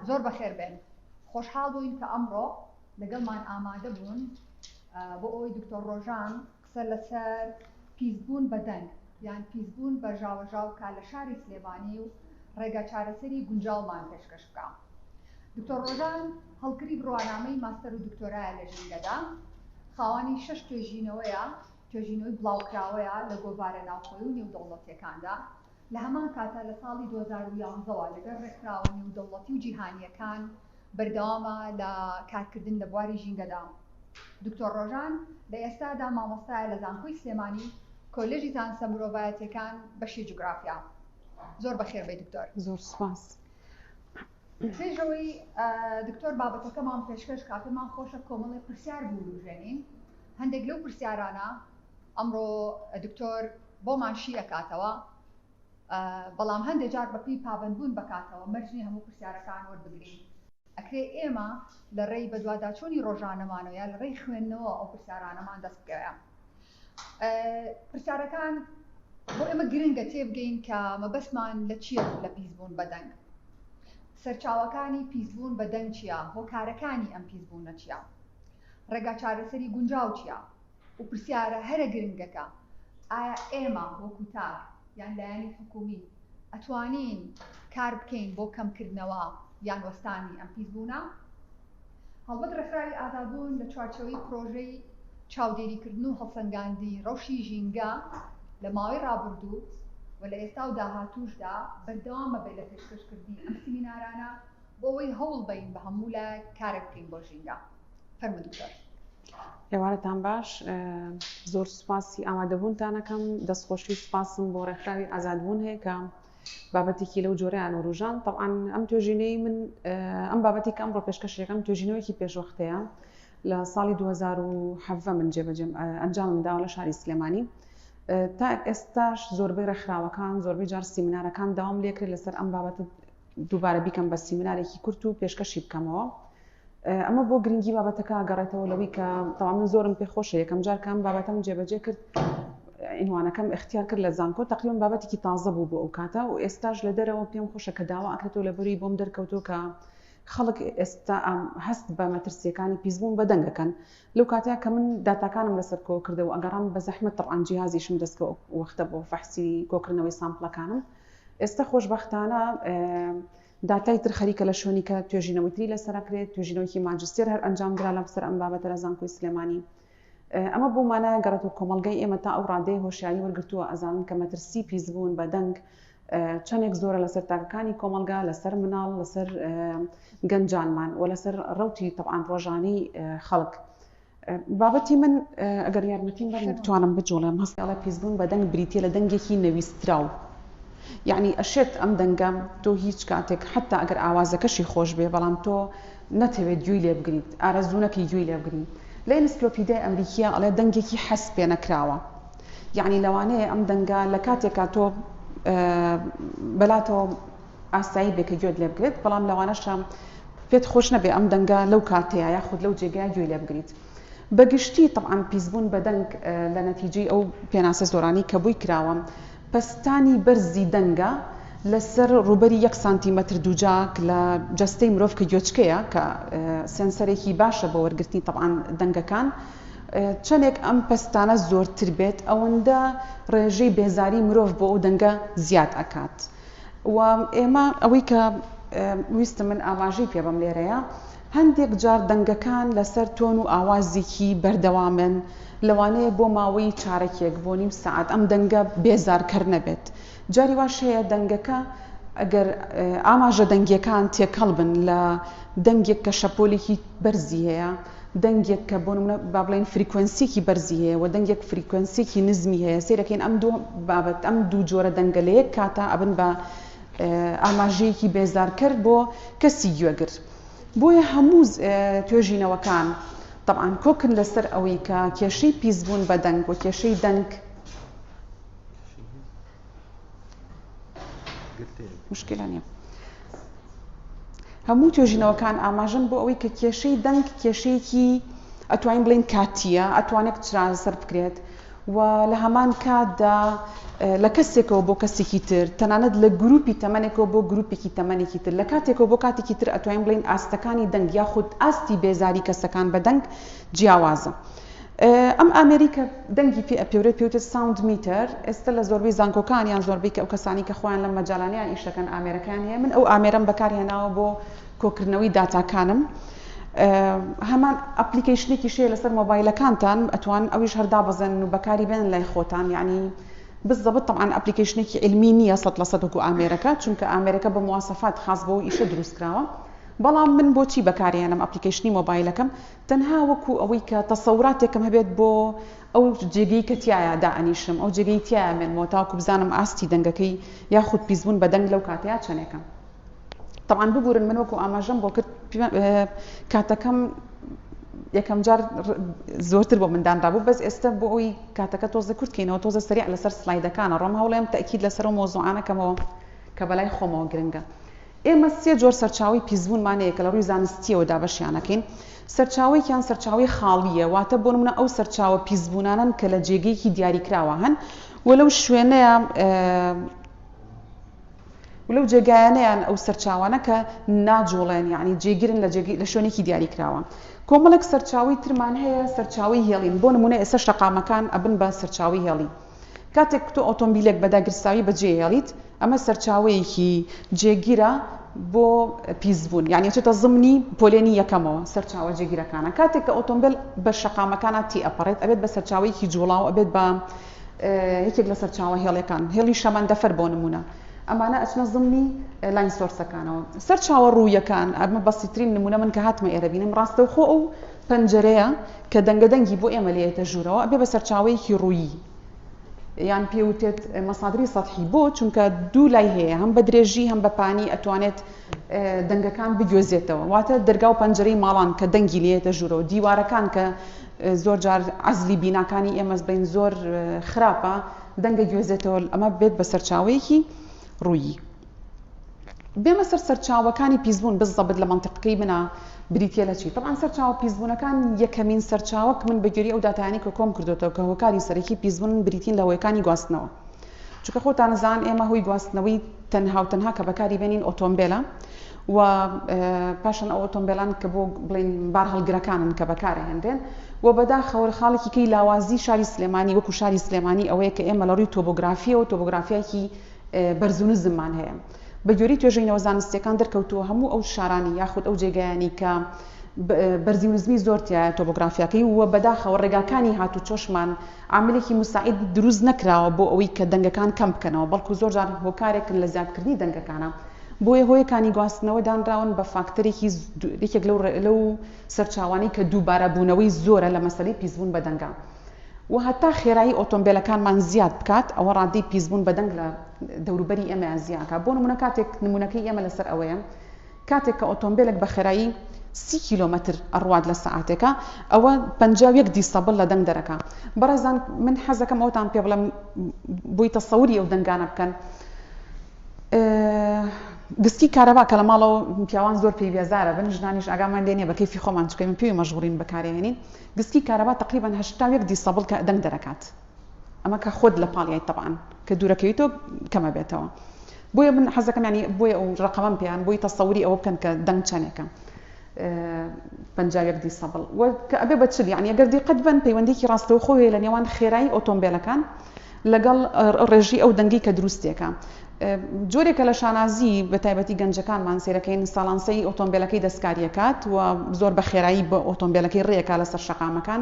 زۆر بەخێر بێن خۆشحاڵ بووین کە ئەمڕۆ لەگەڵمان ئامادە بوون بۆ ئەوەی دکتۆر ڕۆژان قسە لەسەر پیسبوون بە دەنگ یان پیسبوون بە ژاوەژاو بکە لە شاری سلێمانی و ڕێگا چارەسەری گونجاومان پێشکەش بکە. دکتۆر ڕۆژان هەڵکری بڕوانامەی ماستەر و دکتۆرایە لە ژینگەدا، خاوەنی شەش توێژینەوەیە، توێژینەوەی بڵاوکراوەیە لە گۆڤارە ناوخۆی و نێودەوڵەتیەکاندا، لە هەمان کاتە لە ساڵی دوو هەزار و یازدە وە لەگەڵ ڕێکخراوە نێودەوڵەتی و جیهانیەکان، بەردەوامە لە کارکردن لە بواری ژینگەدا. دکتۆر ڕۆژان لە ئێستادا مامۆستایە لە زانکۆی سلێمانی کۆلێژی زانستە مرۆڤایەتیەکان بەشی جوگرافیا. زۆر بەخێربێی دکتۆر. زۆر سوپاس. پێش ئەوەی دکتۆر بابەتەکەمان پێشکەش کا پێمان خۆشە کۆمەڵی پرسیار بوروژێنین هەندێک لەو پرسیارانە ئەمڕۆ دکتۆر بۆمان شی ئەکاتەوە. بەڵام هەندێ جار بەپێی پابەندبوون بە کاتەوە مەرج نییە هەموو پرسیارەکان وەربگرین. ئەکرێ ئێمە لە ڕێی بەدواداچوونی ڕۆژانەمان و یا لە ڕێی خوێندنەوە ئەو پرسیارانەمان دەست بکەوێ. پرسیارەکان بۆ ئێمە گرنگە تێبگەین کە مەبەستمان لە چییە لە پیسبوون بە دەنگ؟ سەرچاوەکانی پیسبوون بە دەنگ چییە؟ هۆکارەکانی ئەم پیسبوونە چییە؟ ڕێگا چارەسەری گونجاو چییە؟ و پرسیارە هەرە گرنگەکە، ئایا ئێمە وەکو تاک یان لایەنی حکوومی ئەتوانین کار بکەین بۆ کەمکردنەوە یان وەستانی ئەم پیسبوونە؟ هەڵبەت ڕێکخراوی ئازادبوون لە چوارچێوەی پرۆژەی چاودێریکردن و هەڵسەنگاندنی ڕەوشی ژینگە لە ماوەی ڕابردوو و لە ئێستا و داهاتووشدا بەردەوام ئەبێت لە پێشکەشکردنی ئەم سیمینارانە بۆ ئەوەی هەوڵبەین بە هەموو لایەک کارێک بکەین بۆ ژینگە. فەرموو دکتۆر. ئێوارەتان باش زۆر سوپاسی ئامادەبوونتانەکەم دەستخۆشی و سوپاسم بۆ ڕێکخراوی ئازادبوون هەیە کە بابەتێکی لەو جۆرەیان وروژان تەعاان ئەم توێژینەی من ئەم بابەتی کەم ڕۆ پێشکەشەکەم توێژینەوەیکی پێشوەختەیە لە ساڵی 2010 من جێبەجێم ئەنجامم داوە لە شاری سلێمانی تا ئێستاش زۆربەی ڕێکخراوەکان زۆربەی جار سیمینارەکان داوام لێکرێت لەسەر ئەم بابەت دووبارە بیکەم بە سیمینارێکی کورت و پێشکەشی بکەمەوە ئەمە بۆ گرنگی بابەتەکە گەڕێتەوە لەوەی کە تەوا من زۆرم پێ خۆشە یەکەم جار کام بابەتەم جێبەجێ کرد ئینوانەکەم اختیار کرد لە زانکۆ تقریبا بابەتێکی تازە بوو بۆ ئەو کاتە و ئێستاش لە دەرەوە پێم خۆشە کە داوا ئەکرێتەوە لە بەری بۆم دەرکەوتۆ کە خەڵک ئێستا هەست بە مەترسیەکانی پیسبوون بە دەنگەکەن لەو کاتەیە کە من داتاکانم لەسەر کۆ کردەوە ئەگەڕام بە زەحمە تڕان جیازیشم دەستکە وەختە بۆ فەحسی کۆکردنەوەی سامپلەکانم ئێستا خۆشببختانە داتای تر خەریکە لە شوێنی کە توێژینەوەی تری لەسەر ئەکرێت، توێژینەوەیەکی ماجستێر هەر ئەنجام درا لەم سەر ئەم بابەتە لە زانکۆی سلێمانی. ئەمە بەو مانایە گەڕێتەوە کۆمەڵگەی ئێمە تا ئەو ڕادەیە هۆشیاری وەرگرتووە ئەزانن کە مەترسی پیسبوون بە دەنگ چەندێک زۆرە لەسەر تاکەکانی کۆمەڵگا، لەسەر مناڵ، لەسەر گەنجانمان و لەسەر ڕەوتی تەبعەن ڕۆژانەی خەڵک. بابەتی من ئەگەر یارمەتیم بەن بتوانم بجوڵێم هەستی ئەڵێ پیسبوون بە دەنگ بریتیە لە دەنگێکی نەویستراو یەعنی ئەشێت ئەم دەنگە تۆ هیچ کاتێک حەتا ئەگەر ئاوازەکەشی خۆش بێ بەڵام تۆ نەتەوێت گوێی لێ بگریت ئارەزوو نەکەی گوێی لێ بگری لە ئینسکلۆپیدای ئەمریکیە ئەڵێ دەنگێکی حەز پێ نەکراوە یەعنی لەوانەیە ئەم دەنگە لە کاتێکا تۆ بەلاتەوە ئاسایی بێ کە گوێت لێ بگرێت، بەڵام لەوانەشە پێت خۆش نەبێ ئەم دەنگە لەو کاتەیا یاخود لەو جێگەیا گوێی لێ بگریت. بە گشتی تەبعەن پیسبوون بە دەنگ لە نەتیجەی ئەو پێناسە زۆرانەی کە بۆی کراوە، پەستانی بەرزی دەنگە لە سەر ڕووبەری یەک سانتیمەتر دووجاک لە جەستەی مرۆڤ کە گوێچکەیە کە سێنسەرێکی باشە بۆ وەرگرتنی تەبعەن دەنگەکان، چەندێک ئەم پەستانە زۆرتر بێت ئەوەندە ڕێژەی بێزاری مرۆڤ بۆ ئەو دەنگە زیاد ئەکات. و ئێمە ئەوەی کە ویستم من ئاماژەی پێ بەم لێرەیە هەندێک جار دەنگەکان لەسەر تۆن و ئاوازێکی بەردەوامن لەوانەیە بۆ ماوەی چارەکێک بۆ نیم سعات ئەم دەنگە بێزارکەر نەبێت جاری واش هەیە دەنگەکە ئەگەر ئاماژە دەنگیەکان تێکەڵ بن لە دەنگێک کە شەپۆلێکی بەرزی هەیە دەنگێک کە بۆ نموونە با بڵێین فریکوێنسییەکی بەرزی هەیە و دەنگێک فریکوێنسییەکی نزمی هەیە، سەیر ئەکەین ئەم دوو بابەت، ئەم دوو جۆرە دەنگە لە یەک کاتا ئەبن بە ئاماژەیەکی بێزارکەر بۆ کەسی گوێگر. بۆیە هەموو توێژینەوەکان تەبعەن کۆکن لەسەر ئەوەی کە کێشەی پیسبوون بە دەنگ و کێشەی دەنگ، هەموو توێژینەوەکان ئاماژەن بۆ ئەوەی کە کێشەی دەنگ کێشەیەکی ئەتوانین بڵین کاتیە ئەتوانێت چرازسەر بکرێت و لە هەمان کاتدا لە کەسێکەوە بۆ کەسێکی تر تەنانەت لە گروپی تەمەێکەوە بۆ گروپێکی تەمەێکی تر لە کاتێکەوە بۆ کاتێکی تر ئەتوانین بڵین ئاستەکانی دەنگ یاخود ئاستی بێزاری کەسەکان بە دەنگ جیاوازە. ئەم ئامێری کە دەنگی پێ ئەپێورێت پێ وتێت ساوند میتەر ئێستا لە زۆربەی زانکۆکان یان زۆربەی کە ئەو کەسانی کە خۆیان لەم مەجالانەیان ئیش دەکەن ئامێرەکەیان هەیە من ئەو ئامێرەم بەکار هێناوە بۆ کۆکردنەوەی داتاکانم هەمان ئەپلیکیشنێکی شەیە لەسەر مۆبایلەکانتان ئەتوان ئەویش هەر دابەزێنن و بەکاری بێنن لای خۆتان یعنی بالضبط طبعا ئەپلیکیشنێکی علمی نییە سە لە سەدەکو ئامێرەکە چونکە ئامێرەکە بە موواسەفات خاص بۆ ئیشە دروست کراوە بەڵام من بۆچی بەکارێنم ئەپلیکیشنی مۆبایلەکەم تەنها وەکو ئەوەی کە تەسەوراتێکم هەبێت بۆ ئەو جێگەی کە تیایا دائەنیشم، ئەو جێگەی تیایا مێنمەوە تاوەکو بزانم ئاستی دەنگەکەی یاخود پیسبوون بە دەنگ لەو کاتەیا چەنێکە. تەبعەن ببورن من وەکو ئاماژەم بۆ کرد کاتەکەم یەکەم جار زۆرتر بۆ من دانرابوو بەس ئێستا بۆ ئەوی کاتەکە تۆزە کورت کەینەوە تۆزە سەریع لەسەر سلایدەکانە ڕۆم هەوڵێم تەکید لەسەر و مۆزوعانەکەمەوە کە بەلای خۆمەوە گرنگە ئێمە سێ جۆر سەرچاوەی پیسبوونمان هەیە کە لە ڕووی زانستییەوە دابەشیان ئەکەین، سەرچاوەیەکیان سەرچاوەی خاڵییە، واتە بۆ نموونە ئەو سەرچاوە پیسبوونانەن کە لە جێگەیەکی دیاریکراوە هەن و لەو شوێنەیە و لەو جێگایانەیان ئەو سەرچاوانە کە ناجووڵێن یعنی جێگرن لە جێگەی لە شوێنێکی دیاریکراوە کۆمەڵێک سەرچاوی ترمان هەیە سەرچاوی هێڵین بۆ نموونە ئێستا شەقامەکان ئەبن بە سەرچاوی هێڵی کاتێک تۆ ئۆتۆمبیلێک بە داگیرساوی بەجێهێڵیت، ئەمە سەرچاوەیەکی جێگیرە بۆ پیسبوون، یانی ئەچێتە زمنی پۆلێنی یەکەمەوە، سەرچاوە جێگیرەکانە، کاتێک کە ئۆتۆمبێل بە شەقامەکانا تیئەپەڕێت، ئەبێت بە سەرچاوەیەکی جووڵاو، ئەبێت بە یەکێک لە سەرچاوە هێڵەکان، هێڵی شەمەندەفەر بۆ نموونە، ئەمانە ئەچنە زمنی لاین سۆرسەکانەوە. سەرچاوە ڕوویەکان، ئەمە بەسیترین نموونە من کە هاتمە ئێرە بینیم، ڕاستەوخۆ ئەو پەنجەرەیە کە دەنگە دەنگی بۆ ئێمە لێیەتە ژوورەوە ئەبێ بە سەرچاوەیەکی ڕوویی یان پێوتێت مەسادری سەتحی بۆ چونکە دوو لای هەیە هەم بە درێژی هەم بە پانی ئەتوانێت دەنگەکان بگوێزێتەوە واتە دەرگا و پەنجەرەی ماڵان کە دەنگی لێتە ژوورەوە دیوارەکان کە زۆر جار عزلی بیناکانی ئێمەز بین زۆر خراپە دەنگە گوێزێتەوە ئەمە بێت بە سەرچاوەیەکی ڕوویی بێمە سەر سەرچاوەکانی پیسبوون بززەبت لە مەنتیقەکەی منە بریتیە لە چی؟ تەبعەن سەرچاوە پیسبوونەکان یەکەمین سەرچاوە کە من بە گوێرەی ئەو داتایانەی کە کۆم کردۆتەوە کە هۆکاری سەرەکی پیسبوون بریتین لە هۆیەکانی گواستنەوە چونکە خۆتان دەزان ئێمە هۆی گواستنەوەی تەنها و تەنها کە بەکاری بێنین ئۆتۆمبێلە و پاشان ئەو ئۆتۆمبێلان کە بۆ بڵین بار هەڵگرەکانن کە بەکارە هێنرێن و بەدا خەوەر خاڵێکی کەی لاوازی شاری سلێمانی وەکو شاری سلێمانی ئەوەیە کە ئێمە لە ڕووی تۆبۆگرافیەوە تۆبۆگرافیایکی بەرزونزممان هەیە. بە گوێرەی توێژینەوە زانستییەکان دەرکەوتووە هەموو ئەو شارانی یاخود ئەو جێگایانی کە بەرزیونزمی زۆر تیایە تۆپۆگرافیاکەی و بەداخەوە ڕێگاکانی هاتوچۆشمان عاملێکی موساعید دروست نەکراوە بۆ ئەوەی کە دەنگەکان کەم بکەنەوە بەڵکو زۆر جار هۆکارێکن لە زیادکردنی دەنگەکانە بۆیە هۆیەکانی گواستنەوە دانراون بە فاکتەرێکی یەکێک لەو سەرچاوانەی کە دووبارەبوونەوەی زۆرە لە مەسەلەی پیسبوون بە دەنگە. و هەتا خێرایی ئۆتۆمبێلەکانمان زیاد بکات ئەوە ڕادەی پیسبوون بە دەنگ لە دەوروبەری ئێمەیان زیاد ئەکات بۆ نموونە کاتێک نموونەکەی ئێمە لەسەر ئەوەیە کاتێک کە ئۆتۆمبێلێک بە خێرایی سی کیلۆمەتر ئەڕوات لە سەعاتێکە ئەوە پەنجا و یەک دیسەبڵ لە دەنگ دەرەکا بەڕێزان من حەزەکەم ئەوتان پێ بڵێم بۆی تەسەوری ئەو دەنگانە بکەن گسکی کارەبا کە لە ماڵەوە پیاوان زۆر پێی بێزارە بن ژنانیش ئاگامان لێ نیە بە کەیفی خۆمان چکەین پێوی مەشغوڵین بەکارێنین گسکی کارەبا تەقریبەن هەشتا و یەک دیسەبڵ کە دەنگ دەرەکات ئەمە کە خۆت لە پاڵیایت تەبعەن کە دوورەکەویتۆ کەمە بێتەوە بۆیە من حەزەکەم یانی بۆیە ئەو ڕقەمەم پێیان بۆی تەسەوری ئەوە بکەن کە دەنگ چەنێکە پەنجا و یەک دیسەبڵ وە کە ئەبێ بە چل یانی ئەگەر دیقەت بن پەیوەندیکی ڕاستەوخۆ هەیە لە نێوان خێرایی ئۆتۆمبێلەکان لەگەڵ ڕێژی ئەو دەنگەی کە دروستێکە جۆرێکە لە شانازی بە تایبەتی گەنجەکانمان سێرەکەین ساڵان سەی ئۆتۆمبیلەکەی دەستکاریەکات و زۆر بە خێرایی بە ئۆتۆمبیلەکەی ڕێکا لەسەر شەقامەکان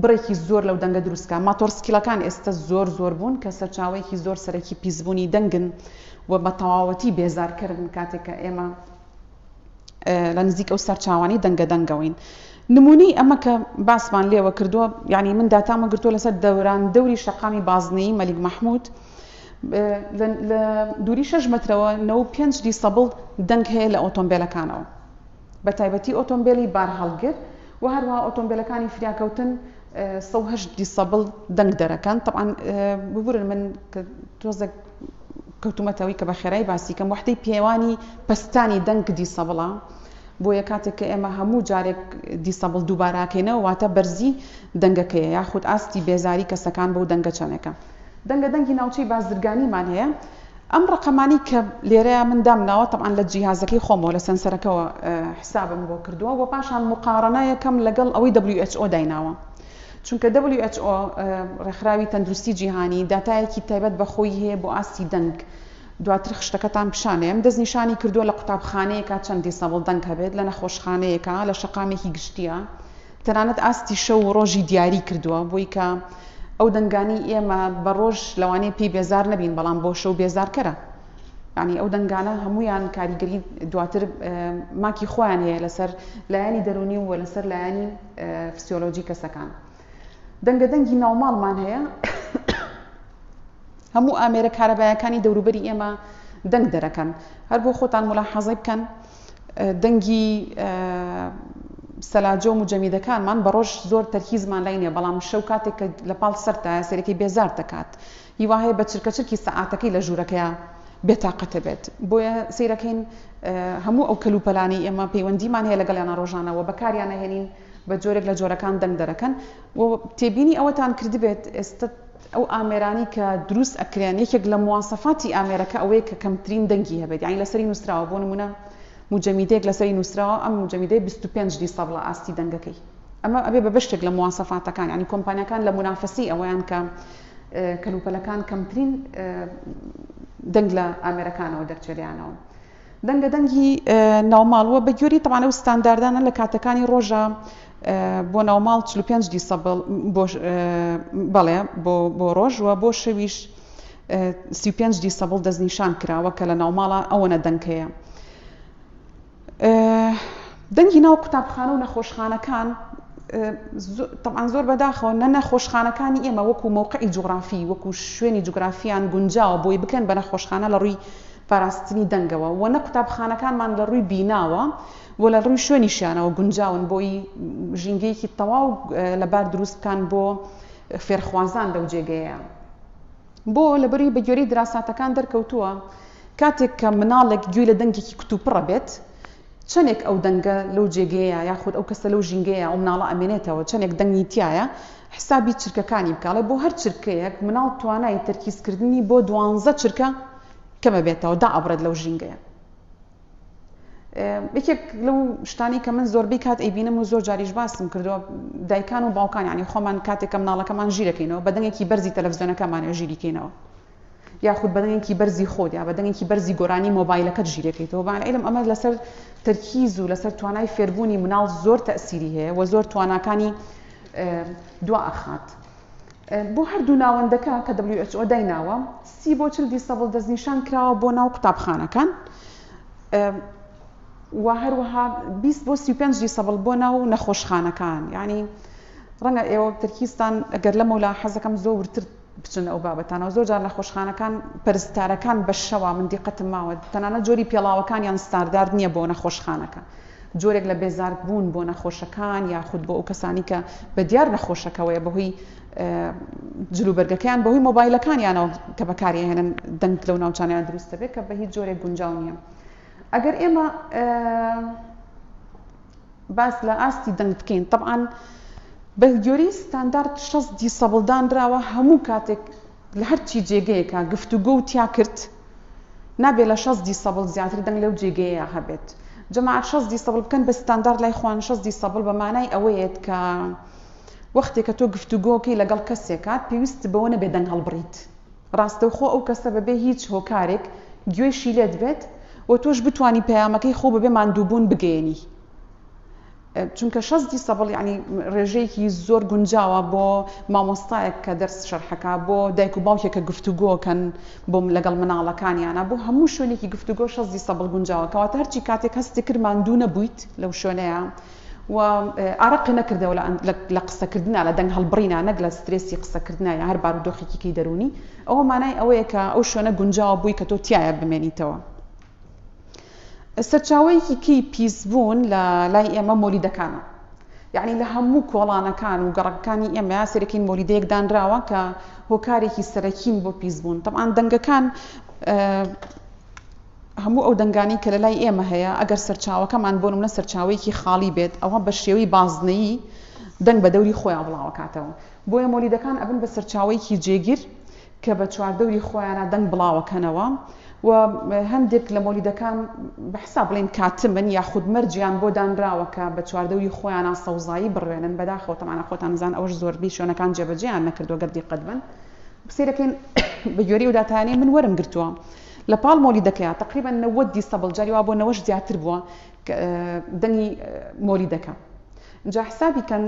بڕێکی زۆر لەو دەنگە دروستکە ماتۆرسکیلەکان ئێستا زۆر زۆر بوون کە سەرچاوەیەکی زۆر سەرەکی پیسبوونی دەنگن و بە تەواوەتی بێزارکردن کاتێککە ئێمە لە نزیک ئەو سەرچاوانەی دەنگە دەنگەوەین. نموونەی ئەمە کە باسمان لێوە کردووە، یانی من داتام وەرگرتووە لەسەر دەوران دەوری شەقامی بازنەیی مەلیک مەحموود، لە دووری شەش مەترەوە نەوە و پێنج دیسەبڵ دەنگ هەیە لە ئۆتۆمبێلەکانەوە، بەتایبەتی ئۆتۆمبێلی بارهەڵگر و هەروەها ئۆتۆمبێلەکانی فریاکەوتن سەد و هەشت دیسەبڵ دەنگ دەرەکەن، تەبعەن ببورن من تۆزێک. کەوتومەتە ئەوەی کە بە خێرای باسی کەم، وەحدەی پێوانی پەستانی دەنگ دیسەبڵە، بۆیە کاتێک کە ئێمە هەموو جارێک دیسەبڵ دووباراکەینەوە واتە بەرزی دەنگەکەیە یاخود ئاستی بێزاری کەسەکان بەو دەنگە چەنێکە. دەنگە دەنگی ناوچەی بازرگانیمان هەیە، ئەم ڕەقەمانەی کە لێرەیە من دامناوە تەبعەن لە جیهازەکەی خۆمەوە لە سەنسەرەکەوە حیسابم بۆ کردووە و پاشان موقاڕەنەیەکەم لەگەڵ ئەوەی who دایناوە. چونکە دەبلیو ئێچ ئۆ، ڕێکخراوی تەندروستی جیهانی، داتایەکی تایبەت بە خۆی هەیە بۆ ئاستی دەنگ، دواتر خشتەکەتان پیشان دەیەم، دەستنیشانی کردووە لە قوتابخانەیەکا چەند دیسەبڵ دەنگ هەبێت، لە نەخۆشخانەیەکا، لە شەقامێکی گشتییا، تەنانەت ئاستی شەو و ڕۆژی دیاری کردووە، بۆی کە ئەو دەنگانەی ئێمە بە ڕۆژ لەوانەیە پێی بێزار نەبین بەڵام بۆ شەو بێزارکەرە، یانی ئەو دەنگانە هەموویان کاریگەری دواتر ماکی خۆیان هەیە لەسەر لایەنی دەروونی و لەسەر لایەنی. فسیۆلۆجی کەسەکان دەنگە دەنگی ناوماڵمان هەیە هەموو ئامێرە کارەبایەکانی دەوروبەری ئێمە دەنگ دەرەکەن هەر بۆ خۆتان ملا حەزی بکەن دەنگی سەلاجۆ و جەمیدەکانمان بە ڕۆژ زۆر تەرکیزمان لای نیە بەڵام شەو کاتێک کە لە پاڵ سەرتایە سەرەکەی بێزار دەکات هیواهەیە بە چرکە چرکی سەعاتەکەی لە ژوورەکەیا بێتاقەتە بێت بۆیە سەیرەکەین هەموو ئەو کەلوپەلانەی ئێمە پەیوەندیمان هەیە لەگەڵیانە ڕۆژانە و بەکاریان نەهێنین بە جۆرێک لە جۆرەکان دەنگ دەرەکەن و تێبینی ئەوەتان کردبێت ئێستا ئەو ئامێرانی کە دروست ئەکرێن یەکێک لە مواسەفاتی ئامێرەکە ئەوەیە کە کەمترین دەنگی هەبێت یانی لەسەری نووسراوە بۆ نمونە مجەمیدەیەک لەسەری نووسراوە ئەم مجەمیدەی 25 دیسەبڵە ئاستی دەنگەکەی ئەمە ئەبێ بە بەشتێک لە مواسەفاتەکان ینی کۆمپانیەکان لە منافەسی ئەوەیان کە کەلوپەلەکان کەمترین دەنگ لە ئامێرەکانەوە دەرچێلیانەوە. دەنگە دەنگی ناوماڵ و بەگوێری تەوان ئەو ستانداردانە لە کاتەکانی ڕۆژە بۆ ناوماڵ 45 دیسەبڵ بەڵێ بۆ ڕۆژ و بۆ شەویش 35 دیسەبڵ دەستنیشان کراوە کە لە ناوماڵە ئەوەنە دەنگ هەیە. دەنگی ناو قوتابخانە و نەخۆشخانەکان طبعاان زۆر بەداخەوە نە نەخۆشخانەکانی ئێمە وەکو مووقعی جوگرافی وەکو شوێنی جوگرافیان گونجاوە بۆی بکەن بە نەخۆشخانە لە ڕووی پاراستنی دەنگەوە و نە قوتابخانەکانمان لە ڕووی بیناوە و لە ڕووی شوێنی شانەوە گونجاون بۆی ژینگەیەکی تەواو لەبار دروستکان بۆ فێرخوازان لەو جێگەیە. بۆ؟ لەبەروی بە گوێرەی دراساتەکان دەرکەوتووە کاتێک کە مناڵێک گوێی لە دەنگێکی کتوپڕە بێت، چەنێک ئەو دەنگە لەو جێگەیە یاخود ئەو کەسە لەو ژینگەیە ئەو مناڵە ئەمێنێتەوە چەنێک دەنگی تیایە حسابی چرکەکانی بکە ئەڵێ بۆ هەر چرکەیەک مناڵ توانای تەرکیزکردنی بۆ دوانزە چرکە کەمەبێتەوە دائەبڕێت لەو ژینگەیە. یەکێک لەو شتانی کە من زۆربەی کات ئەیبینم و زۆر جاریش باسم کردووە دایکان و باوکان ینی خۆمان کاتێکم ناڵەکەمان ژیرەکەینەوە بەدەنگێکی بەرزی تەلەڤزیۆنەکەمانە ژیریکەینەوە یاخود بەدەنگێکی بەرزی خۆت یا بەدەنگێکی بەرزی گۆرانی مۆبایلەکەت ژیرەکەیتەوە بان علم ئەمە لەسەر تەرکیز و لەسەر توانای فێربوونی مناڵ زۆر تەسیری هەیە و زۆر تواناکانی دوا ئەخات بۆ هەردوو ناوەندەکە کە WHO دایناوە، سی بۆ چل دیسەبڵ دەستنیشان کراوە بۆ ناو قوتابخانەکان و هەروەها بیست بۆ سی و پێنج دیسەبڵ بۆ ناو نەخۆشخانەکان یعنی ڕەنگە ئێوە ترکیستان ئەگەر لەمەولا حەزەکەم زۆر ورتر بچن ئەو بابەتانەوە زۆر جار نەخۆشخانەکان پەرستارەکان بە شەوا من دیقەتم ماوە تەنانە جۆری پێڵاوەکانیان ستاندارد نییە بۆ نەخۆشخانەکە جۆرێک لە بێزار بوون بۆ نەخۆشەکان یاخود بۆ ئەو کەسانی کە بە دیار نەخۆشەکەوەیە بەهۆی جل و بەرگەکەیان بەهۆی مۆبایلەکانیانەوە کە بەکاری ئەهێنن دەنگ لەو ناوچانیان دروست دەبێت کە بە هیچ جۆرێک گونجاو نییە ئەگەر ئێمە باس لە ئاستی دەنگ بکەین طبعاان بەگوێری ستاندارد شەست دیسەبڵدانراوە هەموو کاتێک لە هەرچی جێگەیەکە گفتوگۆ و تیا کرد نابێ لە شەست دیسەبڵ زیاتر دەنگ لەو جێگەیەیا هەبێت. جەماعەت شەست دیسەبڵ بکەن بە ستاندارد لای خۆیان شەست دیسەبڵ بە مانای ئەوەیەت کە وەختێ کە تۆ گفتوگۆکەی لەگەڵ کەسێکا پێویستت بەوە نەبێ دەنگ هەڵبڕیت ڕاستەوخۆ ئەو کەسە بەبێ هیچ هۆکارێک گوێیشی لێت بێت و تۆش بتوانی پەیامەکەی خۆو بەبێ ماندووبوون بگەیەنی چونکە شەست دیسەبڵ یەعنی ڕێژەیەکی زۆر گونجاوە بۆ مامۆستایەک کە دەرس شەرحەکە بۆ دایک و باوکێک کە گفتوگۆکەن بۆم لەگەڵ مناڵەکانیانە بۆ هەموو شوێنێکی گفتوگۆ شەست دیسەبڵ گونجاوە کەواتە هەرچی کاتێک هەستی کرد ماندوو نەبوویت لەو شوێنەیە و ئارەقی نەکردەوە لە قسەکردنا لە دەنگ هەڵبڕینا نەک لە سترێسی قسەکردنا یا هەر بارودۆخێکیکەی دەرونی ئەوە مانای ئەوەیە کە ئەو شوێنە گونجاوە بووی کە تۆ تایە بمێنیتەوە سەرچاوەیەکی کەی پیس بوون لە لای ئێمە مۆلیدەکانە یعنی لە هەموو کۆڵانەکان و گەڕەکەکانی ئێمە سەرەکین مۆلیدەیەک دانراوە کە هۆکارێکی سەرەکین بۆ پیس بوون تەعاان دەنگەکان هەموو ئەو دەنگانی کە لە لای ئێمە هەیە ئەگەر سەرچاوەکەمان بۆ منە سەرچاوەیەکی خاڵی بێت ئەوە بە شێوەی بازنەیی دەنگ بە دەوری خۆیان بڵاوکاتەوە بۆیە مۆلیدەکان ئەبن بە سەرچاوەیەکی جێگیر کە بە چواردەوری خۆیانا دەنگ بڵاوەکەنەوە و هەندێک لە مۆلیدەکان بە حساب بڵێین کاتمن یاخود مەرجیان بۆ دانراوە کە بە چواردەوری خۆیانا سەوزایی بڕوێنن بەداخەوە تەمانا خۆتان ئەزان ئەوەش زۆربی شوێنەکان جێبەجێیان نەکردوە گەر دیقەت بەن بسیرەکەین بە گوێری ئەو داتانەی من وەرم گرتووە لە پاڵ مۆلیدەکەیا تەقریبەن نەوەد دیسەبڵ جاری وابووە نەوەش زیاتر بووە دەنگی مۆلیدەکە جا حسابی کەن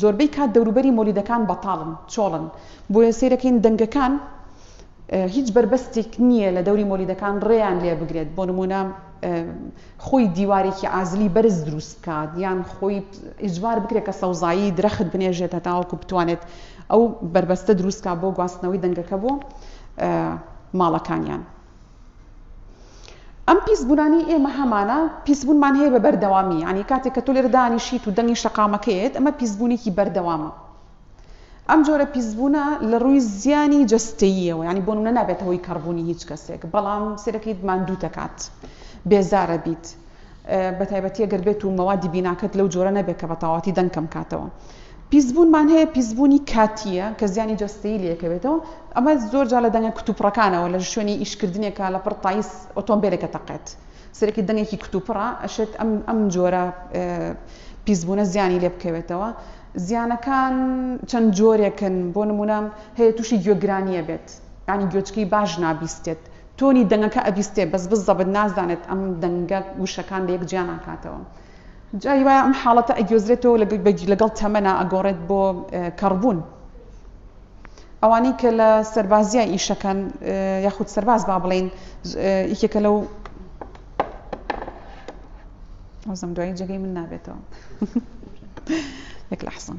زۆربەی کات دەوروبەری مۆلیدەکان بەتاڵن چۆڵن بۆیە سیرەکەین دەنگەکان هیچ بەربەستێک نییە لە دەوری مۆلیدەکان ڕێیان لێ بگرێت بۆ نمونە خۆی دیوارێکی ئازلی بەرز دروست بکات یان خۆی ئیجبار بکرێت کە سەوزایی درەخت بنێژێتە تاوەکو بتوانێت ئەو بەربەستە دروستکە بۆ گواستنەوەی دەنگەکە بۆ ماڵەکانیان. ئەم پیس بونانی ئێمە هەمانە پیس بونمان هەیە بە بەردەوامی یعنی کاتێک کە تۆ لێرە دانیشیت و دەنگی شەقامەکەیت ئەمە پیس بونێکی بەردەوامە ئەم جۆرە پیسبوونە لە ڕووی زیانی جستەییەوە ینی بۆ منە نابێتەوەی کەڕبوونی هیچ کەسێک بەڵام سرەکەیت ماندوو دەکات بێزارە بیت بەتایبەتی ئەگەر بێت و مەوادی بیناکەت لەو جۆرە نەبێت کە بەتەواوەتی دەنگ کەم کاتەوە. پیسبوونمان هەیە پیسبوونی کاتییە کە زیانی جەستەیی لێکەوێتەوە ئەمە زۆر جا لە دەنگە کتوپڕەکانەوە لە شوێنی ئیشکردنێکە لە پڕ تایس ئۆتۆمبیلێکە تەقێت سەرێکی دەنگێکی کتوپڕە ئەشێت ئەم ئەم جۆرە پیسبوونە زیانی لێ بکەوێتەوە زیانەکان چەند جۆرێکن بۆ نمونە هەیە تووشی گوێگرانیە بێت ینی گوێچکی باش نابیستێت تۆنی دەنگەکە ئەبیستێ بەس بزەبت نازانێت ئەم دەنگە وشەکان لە یەک جیا ناکاتەوە جاری وایە ئەم حاڵەتە ئەگوێزرێتەوە لەگەڵ تەمەنا ئەگۆڕێت بۆ کەڕبوون ئەوانەی کە لە سەربازیای ئیشەکەن یاخود سەرباز با بڵێین یکێکە لەو ئەوزم دوایی جێگەی من نابێتەوە یەک لە حسن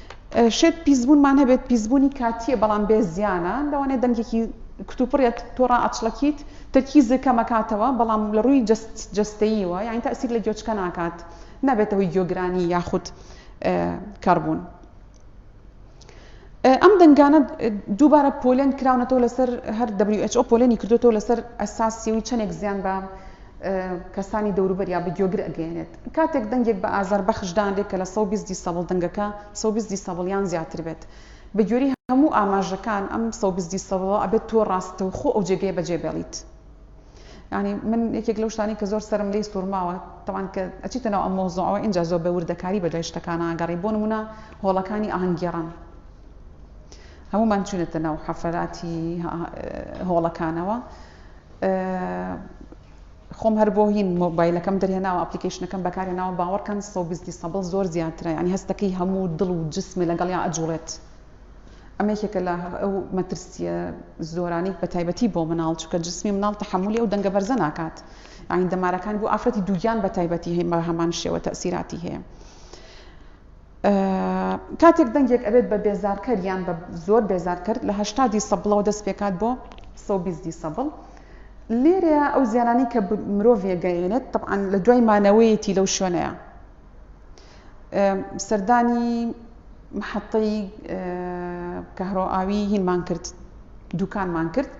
شێت پیسبوونمان هەبێت پیسبوونی کاتییە بەڵام بێ زیانە لەوانەیە دەنگێکی کتوپڕێت تۆ ڕائەچڵەکیت تەرکیزت کەمەکاتەوە بەڵام لە ڕووی جەست جەستەییەوە یانی تەئسیر لە گوێچکە ناکات نابێتە هۆی گوێگرانی یاخود کەڕبوون ئەم دەنگانە دووبارە پۆلێن کراونەتەوە لەسەر هەر WHO پۆلێنی کردوێتەوە لەسەر ئەساسی و چەندێک زیان بە کەسانی دەوروبەر یا بە گوێگر ئەگەێنێت کاتێک دەنگێک بە ئازار بەخش دانرێت کە لە سەد و بیست دیسەبڵ دەنگەکە سەد و بیست دیسەبڵ یان زیاتر بێت بە گوێری هەموو ئاماژەکان ئەم سەد و بیست دیسەبڵە ئەبێت تۆ ڕاستەوخۆ ئەو جێگەیە بە جێ بێڵیت یانی من یەکێک لەو شتانەی کە زۆر سەرم لێی سوورماوە تەوان کە ئەچیتە ناو ئەم مەوزوعەوە ئینجا زۆر بە وردەکاری بە دوای شتەکانە ئەگەڕێی بۆ نموونە هۆڵەکانی ئاهەنگگێڕان هەموومان چوونەتە ناو حەفەلاتی هۆڵەکانەوە خۆم هەر بۆ هین مۆبایلەکەم دەرهێناوە ئەپلیکەیشنەکەم بەکارهێناوە باوەڕکەن سۆگستی سەبڵ زۆر زیاترە یانی هەستەکەی هەموو دڵ و جسمێ لەگەڵیا ئەجوڵێت ئەمە یەکێکە لە ئەو مەترسیە زۆرانەی بەتایبەتی بۆ مناڵ چونکە جسمی مناڵ تەحەمولی ئەو دەنگە بەرزە ناکات یانی دەمارەکان بۆ ئافرەتی دووگیان بەتایبەتی هەیە بە هەمان شێوە تەئسیراتی هەیە کاتێک دەنگێک ئەبێت بە بێزارکەر یان بە زۆر بێزارکەر لە هەشتا دیسەبڵەوە دەست پێکات بۆ سەد و بیست دیسەبڵ لێرەیە ئەو زیانانەی کە مرۆڤ یەگەیەنێت طبعاً لە دوای مانەوەیەتی لەو شوێنەیە سەردانی محەتەی کەهرۆئاوی هینمان کرد دوکانمان کرد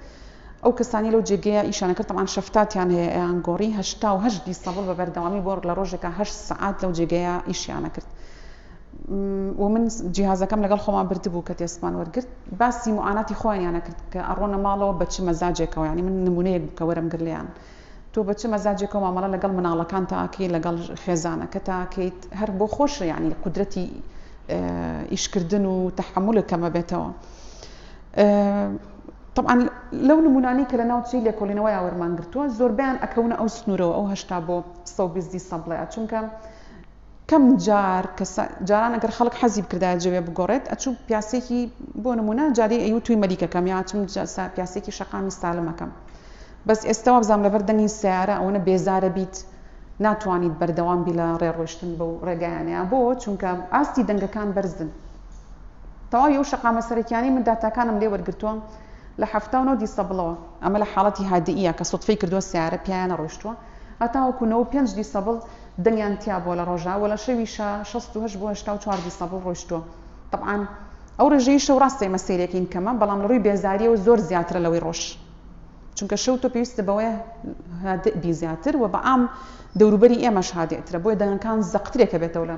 ئەو کەسانەی لەو جێگەیە ئیشیان دەکرد تەبعەن شەفتاتیان هەیە ئەیان گۆڕی هەشتا و هەشت بیستەبڵ بە بەردەوامی بۆ لە ڕۆژێکا هەشت سەعات لەو جێگەیە ئیشیان دەکرد و من جیهازەکەم لەگەڵ خۆمان بردبوو کە تێسمان وەرگرت باسی معاناتی خۆیانیان نەکرد کە ئەڕۆنە ماڵەوە بە چ مەزاجێکەوە یعنی من نمونەیەک بوو کە وەرم گرت لێیان تۆ بە چ مەزاجێکەوە مامەڵە لەگەڵ مناڵەکان تاکەی لەگەڵ خێزانەکە تاکەیت هەر بۆ خۆش یعنی قودرەتی ئیشکردن و تەحەمولت کەمەبێتەوە تەبعەن لەو نموونانەی کە لە ناوچەی لێکۆڵینەوەی ئاوەرمان گرتووە زۆربەیان ئەکەونە ئەو سنوورەوە ئەو هەشتا بۆ سەد و بیست دیسەبڵەیە چونکە کەم جار کەسە جاران ئەگەر خەڵک حەزی بکردایە جەوێ بگۆڕێت ئەچوو پیاسێکی بۆ نموونە جارێ ئەیوت توی مەلیکەکەم یا ئەچووم پیاسێکی شەقامی سالمەکەم بەس ئێستا وابزانم لەبەر دەنگی سەیارە ئەوەنە بێزارە بیت ناتوانیت بەردەوام بی لە ڕێڕۆیشتن بەو ڕێگایانەیە بۆ چونکە ئاستی دەنگەکان بەرزن تەواوی ئەو شەقامە سەرەکیانەی من داتاکانم لێ وەرگرتووە لە حەفتا و نۆ دیسەبڵەوە، ئەمە لە حاڵەتی هادییە کە سوتفەی کردووە سەیارە پێیان نەڕۆیشتووە، هەتاوەکو نەوە و پێنج دیسەبڵ دەنگیان تیا بووە لە ڕۆژا و لە شەویشا شەست و هەشت بۆ هەشتا و چوار دیسەبڵ ڕۆیشتووە. تەبعان ئەو ڕێژەی شەو ڕاستە ئێمە سەیرێکین کەمە، بەڵام لە ڕووی بێزارییەوە زۆر زیاترە لەوەی ڕۆژ. چونکە شەو تۆ پێویستە بەوەیە هادئ بی زیاتر و بەعام دەوروبەری ئێمەش هادئترە، بۆیە دەنگەکان زەقترێکە بێتەوە لە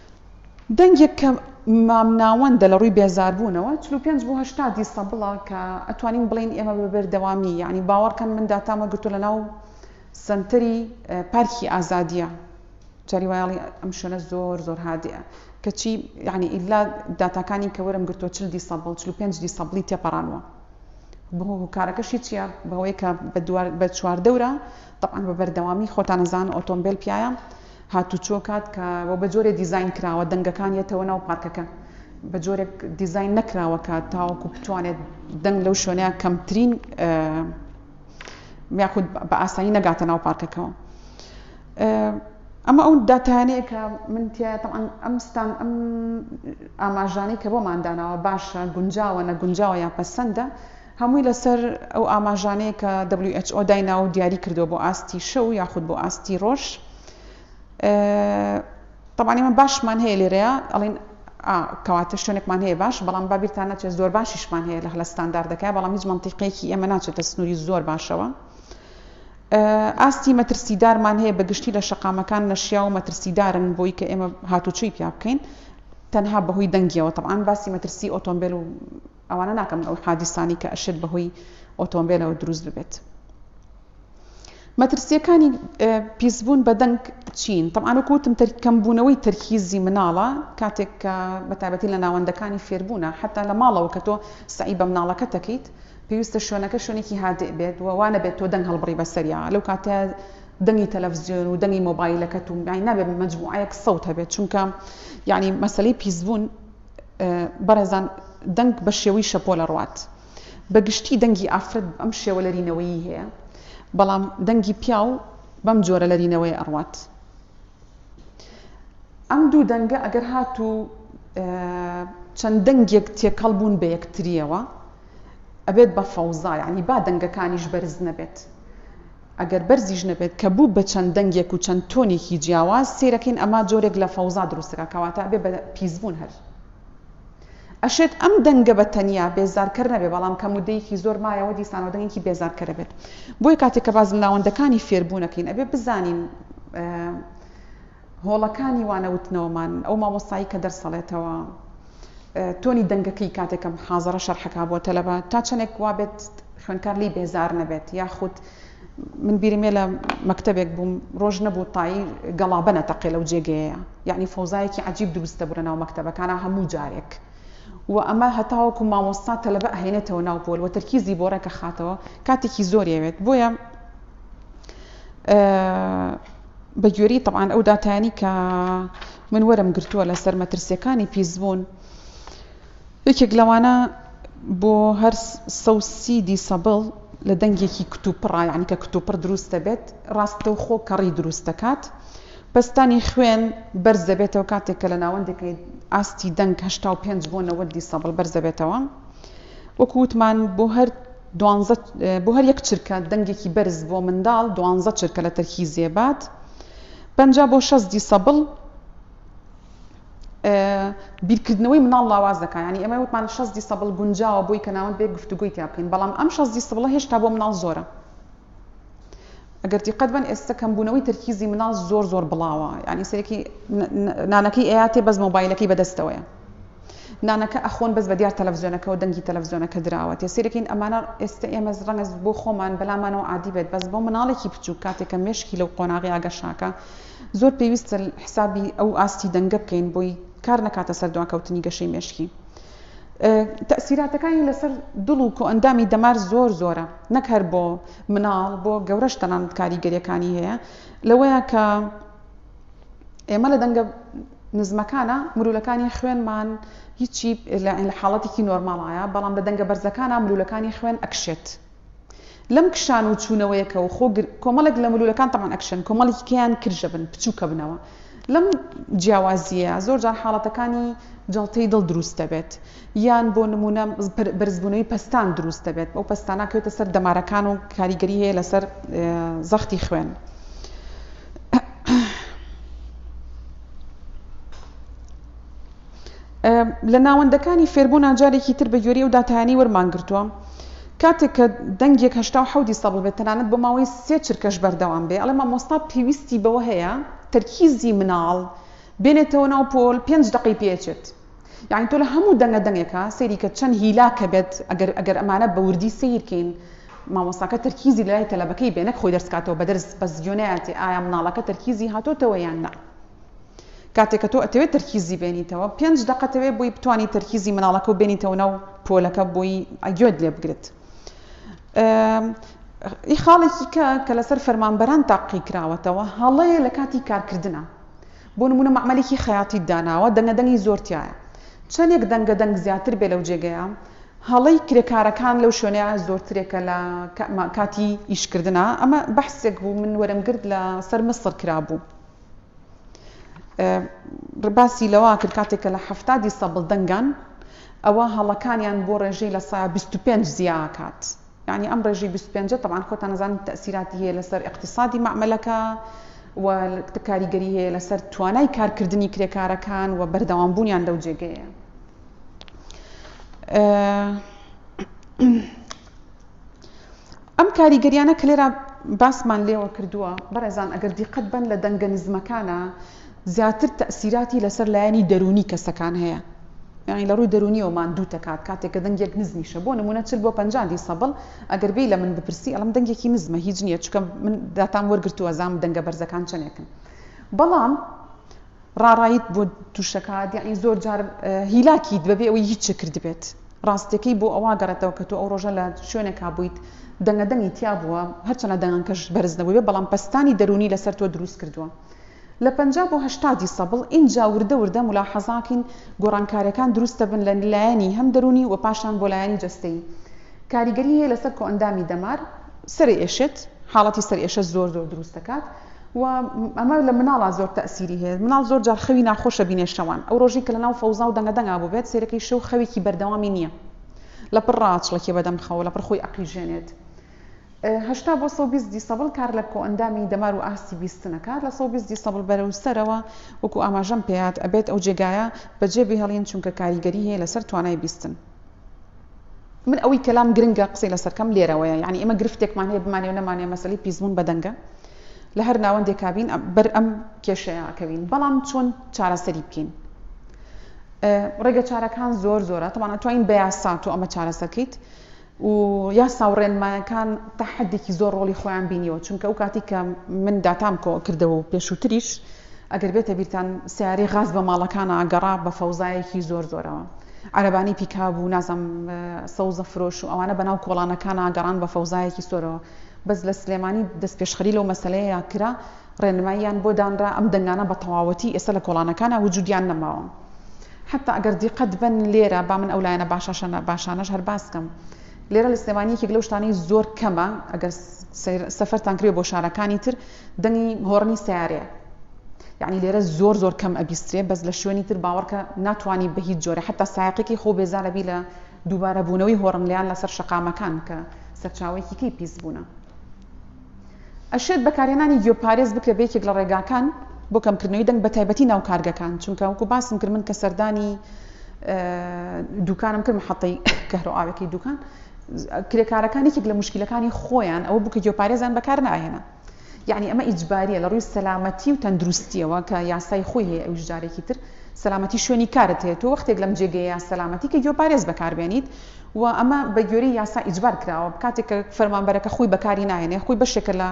دەنگێک کە مامناوەندە لە ڕووی بێزاربوونەوە، چل و پێنج بۆ هەشتا دیسەبڵە کە ئەتوانین بڵێین ئێمە بە بەردەوامی یانی باوەڕکەن من داتامە گرتووە لە ناو سەنتەری پارکی ئازادیە جاری وایڵی ئەم شوێنە زۆر زۆر هادەیە کەچی یعنی ئیلا داتاکانی کە وەرم گرتووە چل دیسەبڵ چل و پێنج دیسەبڵی تێپەڕانوە بۆ هۆکارەکەشی چییە بەوەی کە بە چواردەورە تەعاان بە بەردەوامی خۆتانەزان ئۆتۆمبیل پیاە هاتوچۆ کات کە وە بە جۆرێ دیزاین کراوە دەنگەکان یەتەوە ناو پارکەکە بە جۆرێک دیزاین نەکراوە کە تاوەکو بتوانێت دەنگ لەو شوێنەیە کەمترین یاخود بە ئاسایی نەگاتە ناو پارکەکەەوە ئەمە ئەو داتانەیە کە من تیاتەعاان ئەم ستان ئەم ئاماژانەی کە بۆمانداناوە باشە گونجاوە نە گونجاوە یا پەسەندە هەمووی لەسەر ئەو ئاماژانەیە کە who دایناوە و دیاری کردووە بۆ ئاستی شەو یاخود بۆ ئاستی ڕۆژ. تەبعەن ئێمە باشمان هەیە لێرەیە ئەڵین کەواتە شوێنێکمان هەیە باش بەڵام بابیرتان ناچێت زۆر باشیشمان هەیە لە هەلە ستانداردەکە بەڵام هیچ منتیقێکی ئێمە ناچێتە سنووری زۆر باشەوە. ئاستی مەترسیدارمان هەیە بە گشتی لە شەقامەکان نەشیا و مەترسیدارن بۆی کە ئێمە هاتوچۆی پیا بکەین تەنها بەهۆی دەنگیەوە تەبعاان باسی مەترسی ئۆتۆمبیل و ئەوانە ناکەن ئەو حادیسانەی کە ئەشێت بەهۆی ئۆتۆمبێلەوە دروست ببێت. مەترسیەکانی پیسبوون بە دەنگ چین طبعا وەکو وتم کەمبوونەوەی تەرکیزی مناڵە کاتێک کە بەتابەتی لە ناوەندەکانی فێربوونە حتا لە ماڵەوە کە تۆ سعی بە مناڵەکە تەکەیت پێویستە شوێنەکە شوێنێکی هادئ بێت و وانە بێت تۆ دەنگ هەڵبڕی بەسەریا لەو کاتە دەنگی تەلەڤزیۆن و دەنگی مۆبایلەکەت و یعنی نابێت مجموعەیەک سەوت هەبێت چونکە یعنی مەسەلەی پیسبوون بەڕێزان دەنگ بە شێوەی شەپۆل ئەڕوات. بە گشتی دەنگی ئافرەت بەم شێوە لەرینەوەیی هەیە، بەڵام دەنگی پیاو بەم جۆرە لەرینەوەیە ئەڕوات. ئەم دوو دەنگە ئەگەر هاتوو چەند دەنگێک تێکەڵ بوون بە یەکترییەوە ئەبێت بە فەوزا، یانی با دەنگەکانیش بەرز نەبێت. ئەگەر بەرزیش نەبێت کە بوو بە چەند دەنگێک و چەند تۆنێکی جیاواز سەیرەکەین ئەمە جۆرێک لە فەوزا دروستەکا کەواتە ئەبێ بە پیسبوون هەر ئەشێت ئەم دەنگە بە تەنیا بێزارکەر نەبێ بەڵام کە مدەیەکی زۆر مایەوە دیسانەوە دەنگێکی بێزارکەرە بێت بۆیە کاتێک کە باز ناوەندەکانی فێربوونەکەین ئەبێ بزانین هۆڵەکانی وانەوتنەوەمان، ئەو مامۆستایەی کە دەرس ئەڵێتەوە، تۆنی دەنگەکەی کاتێک کە محازەرە شەرح ئەکا بۆ تەلەبە، تا چەندێک وا بێت خوێندکار لێی بێزار نەبێت، یاخود من بیرم یە لە مەکتەبێک بووم، ڕۆژ نەبوو تای گەڵابە نەتەقێ لەو جێگەیەیا، یەعنی فەوزایەکی عەجیب دروست دەبوو لە ناو مەکتەبەکانا هەموو جارێک و ئەمە هەتاوەکو مامۆستا تەلەبە ئەهێنێتەوە ناو پۆل و تەرکیزی بۆ ڕێک ئەخاتەوە، کاتێکی زۆری ئەوێت، بۆیە. بە گوێرەی تەبعەن ئەو داتایانی کە من وەرم گرتووە لەسەر مەترسیەکانی پیسبوون یەکێک لەوانە بۆ هەر سەوسیدی سەبڵ لە دەنگێکی کتوپڕا یعنی کە کتوپڕ دروست دەبێت ڕاستە و خۆ کەڕی دروست دەکات پستانی خوێن بەرز دەبێتەوە کاتێک کە لە ناوەندەکەی ئاستی دەنگ هشتا و پێنج بۆ نەوەدی سەبڵ بەرز دەبێتەوە وەکووتمان بۆ هەر دوانزە، بۆ هەر یەک چرکە دەنگێکی بەرز بۆ منداڵ دوانزە چرکە لە تەرکی زێباد پەنجا بۆ شەست دیسەبڵ بیرکردنەوەی منداڵ لاواز دەکات یانی ئێمە وتمان شەست دیسەبڵ گونجاوە بۆی کە ناوەند بێ گفتوگۆی تیا بکەین بەڵام ئەم شەست دیسەبڵە هێشتا بۆ منداڵ زۆرە ئەگەر دیقەت بەن ئێستە کەمبوونەوەی تەرکیزی مناڵ زۆر زۆر بڵاوە یعنی سەرێکی نانەکەی ئەیاتێ بەس مۆبایلەکەی بەدەستەوەیە نانەکە ئەخۆن بەس بە دیار تەلەڤزیۆنەکەەوە دەنگی تەلەڤزیۆنەکە دراوە تێ سێرەکەین ئەمانە ئێستا ئێمە ڕەنگە بۆ خۆمان بەلامانەوە عادی بێت بەس بۆ مناڵێکی بچوو کاتێکە مشکی لەو قۆناغی ئاگەشاکە زۆر پێویستە حسابی ئەو ئاستی دەنگە بکەین بۆی کار نەکاتە سەر دواکەوتنی گەشەی مشکی تەئسیراتەکانی لەسەر دڵ و کۆئەندامی دەمار زۆر زۆرە نەک هەر بۆ مناڵ بۆ گەورەش تەنانەت کاریگەریەکانی هەیە لەوەیە کە ئێمە لە دەنگە نزمەکانە مرولەکانی خوێنمان هیچی لە حاڵەتێکی نۆرماڵایە بەڵام لە دەنگە بەرزەکانە مرولەکانی خوێن ئەکشێت لەم کشان و چوونەوەیە کە و خۆ گر کۆمەڵێک لە ملوولەکان تەمان ئەکشن کۆمەڵێکی کەیان کرژە بن پچووکە بنەوە لەم جیاوازییە زۆر جار حاڵەتەکانی جەڵتەی دڵ دروست دەبێت یان بۆ نمونە بەرزبوونەوەی پەستان دروست دەبێت ئەو پەستانە کەوتە سەر دەمارەکان و کاریگەری هەیە لەسەر زەختی خوێن لە ناوەندەکانی فێربوونا جارێکی تر بە گوێرەی ئەو داتایانەی وەرمان گرتووە کاتێک کە دەنگێک هەشتا و حەوت دیسەبڵ بێت تەنانەت بۆ ماوەی سێ چرکەش بەردەوام بێ ئەڵێ مامۆستا پێویستی بەوە هەیە تەرکیزی مناڵ بێنێتەوە ناو پۆل پێنج دەقەی پێچێت یعنی تۆ لە هەموو دەنگە دەنگێکە سەیری کە چەند هیلاکە بێت ئەگەر ئەگەر ئەمانە بە وردی سیرکەین مامۆستاکە تەرکیزی لای تەلەبەکەی بێنەک خۆی دەرسکاتەوە بە دەرس بەس گوێنەیەتی ئایا مناڵەکە تەرکیزی هاتۆتەوە یان نا کاتێک کە تۆ ئەتەوێت تەرکیزی بێنیتەوە پێنج دەقە تەوێ بۆی بتانی تەرکیزی مناڵەکە و بێنیتەوە ناو پۆلەکە بۆی ئەگوێت لێ بگرت ئی خاڵێکی کە کە لەسەر فەرمانبەران تاقی کراوەتەوە هەڵەیە لە کاتی کارکردە بۆ نمونە معمەلێکی خەیاتی داناوە دەنگە دەنگی زۆرتیایە چەندێک دەنگە دەنگ زیاتر بێ لەو جێگەیە هەڵەی کرێکارەکان لەو شوێنەیە زۆرترێکە لە کاتی ئیشکردە ئەمە بەحسێک بوو من وەرم گرت لە سەر مسڕ کرابوو. باسی لەوە کرد کاتێک کە لە حەفتادی سەبڵ دەنگان ئەوە هەڵەکانیان بۆ ڕێژەی لە سایە 25 زیاکات یعنی ئەم ڕێژی 25 تەبان خۆتان نزانن تەسیراتی هەیە لەسەر اقتصادی معملەکە و کاریگەری هەیە لەسەر توانای کارکردنی کرێکارەکان و بەردەوام بوونیان لەو جێگەیە ئەم کاریگەریانە کە لێرا باسمان لێوە کردووە بەڕێزان ئەگەر دیقەت بن لە دەنگە نزمەکانە زیاتر تەسیراتی لەسەر لایەنی دەرونی کەسەکان هەیە یعنی لە ڕووی دەرونیەوە ماندوو تەکات کاتێک کە دەنگێک نزمیشە بۆ نمونە چل بۆ پەنجا دیسەبڵ ئەگەر بێ لە من بپرسی ئەڵم دەنگێکی نزمە هیچ نییە چکە من داتام وەرگرتووە زام دەنگە بەرزەکان چەندێکن بەڵام ڕاڕایت بۆ توشەکات یاعنی زۆر جار هیلاکیت بەبێ ئەوەی هیچ چ کردبێت ڕاستەکەی بۆ ئەوا گەڕێتەوە کە تۆ ئەو ڕۆژە لە شوێنێکا بوویت دەنگە دەنگی تیا بووە هەرچەنە دەنگەکەش بەرز نەبووێ بەڵام پەستانی دەروونی لەسەر تۆ دروست کردووە لە پەنجا بۆ هەشتا دیسەبڵ ئینجا وردە وردە مولاحەزاکین گۆڕانکارەکان دروست دەبن لە لایەنی هەم دەروونی وە پاشان بۆ لایەنی جەستەیی کاریگەری هەیە لەسەر کۆئەندامی دەمار سەرئێشێت حاڵەتی سەرئێشە زۆر زۆر دروست دەکات. و ئەمە لە مناڵا زۆر تەئسیری هەیە مناڵ زۆر جار خەوی ناخۆش ئەبینێ شەوان ئەو ڕۆژی کە لەناو فەوزا و دەنگە دەنگا بوبێت سەیرەکەی شەو خەوێکی بەردەوامی نییە لەپڕ ڕاچڵەکێ بەدەم خەوە لەپڕ خۆی ئەقیژێنێت هەشتا بۆ سەد و بیست دیسەبڵ کار لە کۆئەندامی دەمار و ئاستی بیستن ئەکات لە سەد و بیست دیسەبڵ بەرەو سەرەوە وەکو ئاماژەم پێات ئەبێت ئەو جێگایە بەجێبهێڵین چونکە کاریگەری هەیە لەسەر توانای بیستن. من ئەوەی کە لام گرنگە قسەی لەسەر کەم لێرەوەیە یعنی ئێمە گرفتێکمان هەیە بمانێ و نەمانێ مەسەلەی پیسبوون بە دەنگە لە هەر ناوەندێکا بین بەر ئەم کێشەیە ئەکەوین بەڵام چۆن چارەسەری بکەین ڕێگە چارەکان زۆر زۆرە تەوانە توانین بە یاسا تۆ ئەمە چارەسەرکەیت و یاسا و ڕێنمایەکان تا حدێکی زۆر ڕۆڵی خۆیان بینیەوە چونکە ئەو کاتی کە من داتام کۆ کردەوە و پێشووتریش ئەگەر بێتە بیرتان سیارەی غاز بە ماڵەکان ئاگەڕا بە فەوزایەکی زۆر زۆرەوە عەرەبانی پیکاب و نازم سەوزە فرۆش و ئەوانە بەناو کۆڵانەکانا گەڕان بە فەوزایەکی سۆرەوە بەس لە سلێمانی دەستپێشخەری لەو مەسەلەیەیا کرا ڕێنماییان بۆ دانرا ئەم دەنگانە بە تەواوەتی ئێستا لە کۆڵانەکانا وجودیان نەماوە حتا ئەگەر دیقەت بەن لێرە با من ئەو لایەنە باشاشەنە باشانەش هەر باس کەم لێرە لە سلێمانی یەکێک لەو شتانەی زۆر کەمە ئەگەر سەفەرتان کرێ بۆ شارەکانی تر دەنگی هۆڕنی سیارەیە یەعنی لێرە زۆر زۆر کەم ئەبیسترێ بەس لە شوێنی تر باوەڕکە ناتوانانی بە هیچ جۆرە حتا سایقێکی خۆ بێزارەبی لە دووبارەبوونەوەی هۆڕملیان لەسەر شەقامەکان کە سەرچاوەیەکی کەی پیس بوونە ئەشێت بەکارهێنانی گوێپارێز بکرێ بە یەکێک لە ڕێگاکان بۆ کەمکردنەوەی دەنگ بە تایبەتی ناو کارگەکان چونکە وەکو باسم کرد من کە سەردانی دوکانم کرد حەتەی کەهرۆ ئاوەکەی دوکان کرێکارەکان یەکێک لە مشکلەکانی خۆیان ئەوە بوو کە گوێپارێزان بەکار ناهێنان یەعنی ئەمە ئیجباریە لە ڕووی سەلامەتی و تەندروستیەوە کە یاسای خۆی هەیە ئەویش جارێکی تر سەلامەتی شوێنی کارت هەیە تۆ وەختێک لەم جێگەیە سەلامەتی کە گوێ پارێز بەکار بێنیت و ئەمە بە گوێری یاسا ئیجبار کراوە کاتێک کە فەرمانبەرەکە خۆی بەکاری ناهێنێ خۆی بەشێکە لە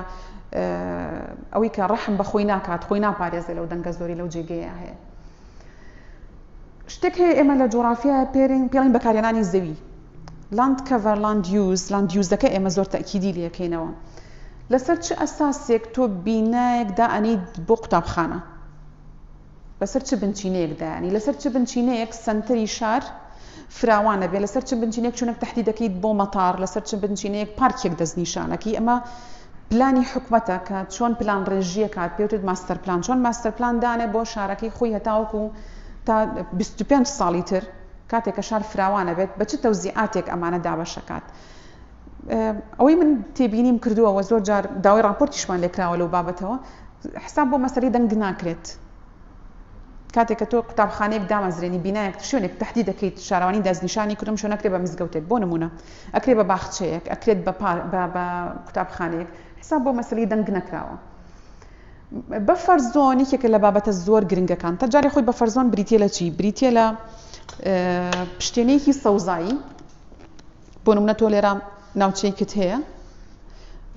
ئەوەی کە ڕەحم بە خۆی ناکات خۆی ناپارێزێ لەو دەنگە زۆری لەو جێگەیە هەیە شتێک هەیە ئێمە لە جۆرافیا پێرین پێڵین بەکارێنانی زەوی لاند کەڤەر لاند یوز، لاند یوزەکە ئێمە زۆر تەئکیدی لێکەینەوە لەسەر چ ئەساسێک تۆ بینایەک دائەنێیت بۆ قوتابخانە لەسەر چ بنچینەیەک دایانی لەسەر چ بنچینەیەک سەنتەری شار فراوانە بێ لەسەر چ بنچینێک چونک تهدی دەکەیت بۆ مەتار لەسەر چ بنچینەیەک پارکێک دەستنیشانەکەی ئەمە پلانی حکومەتە کە چۆن پلان ڕێژیە کات پێوتت ماستەر پلان چۆن ماستەر پلان دانێ بۆ شارەکەی خۆی هەتاوەکو تا 25 ساڵی تر کاتێک کە شار فراوان ئەبێت بە چ تەوزیعاتێک ئەمانە دابەش ئەکات؟ ئەوەی من تێبینیم کردووە و زۆر جار داوای ڕاپۆرتیشمان لێکراوە لەو بابەتەوە حساب بۆ مەسەری دەنگ ناکرێت کاتێک کە تۆ قوتابخانەیەک دامەزرێنی بینایەک شوێنێک تهدی دەکەیت شارەوانی دەستنیشانی کردم شو نەکرێت بە مزگەوتێک بۆ نمونە ئەکرێ بە باخچەیەک ئەکرێت بە قوتابخانەیەک حساب بۆ مەسەری دەنگ نەکراوە بەفەر زۆن یەکێکە لە بابەتە زۆر گرنگەکان. تەجاری خۆی بەفەر زۆن بریتیە لە چی؟ بریتیە لە پشتێنەیەکی سەوزایی بۆ نمونە تۆ لێرە ناوچەیەکت هەیە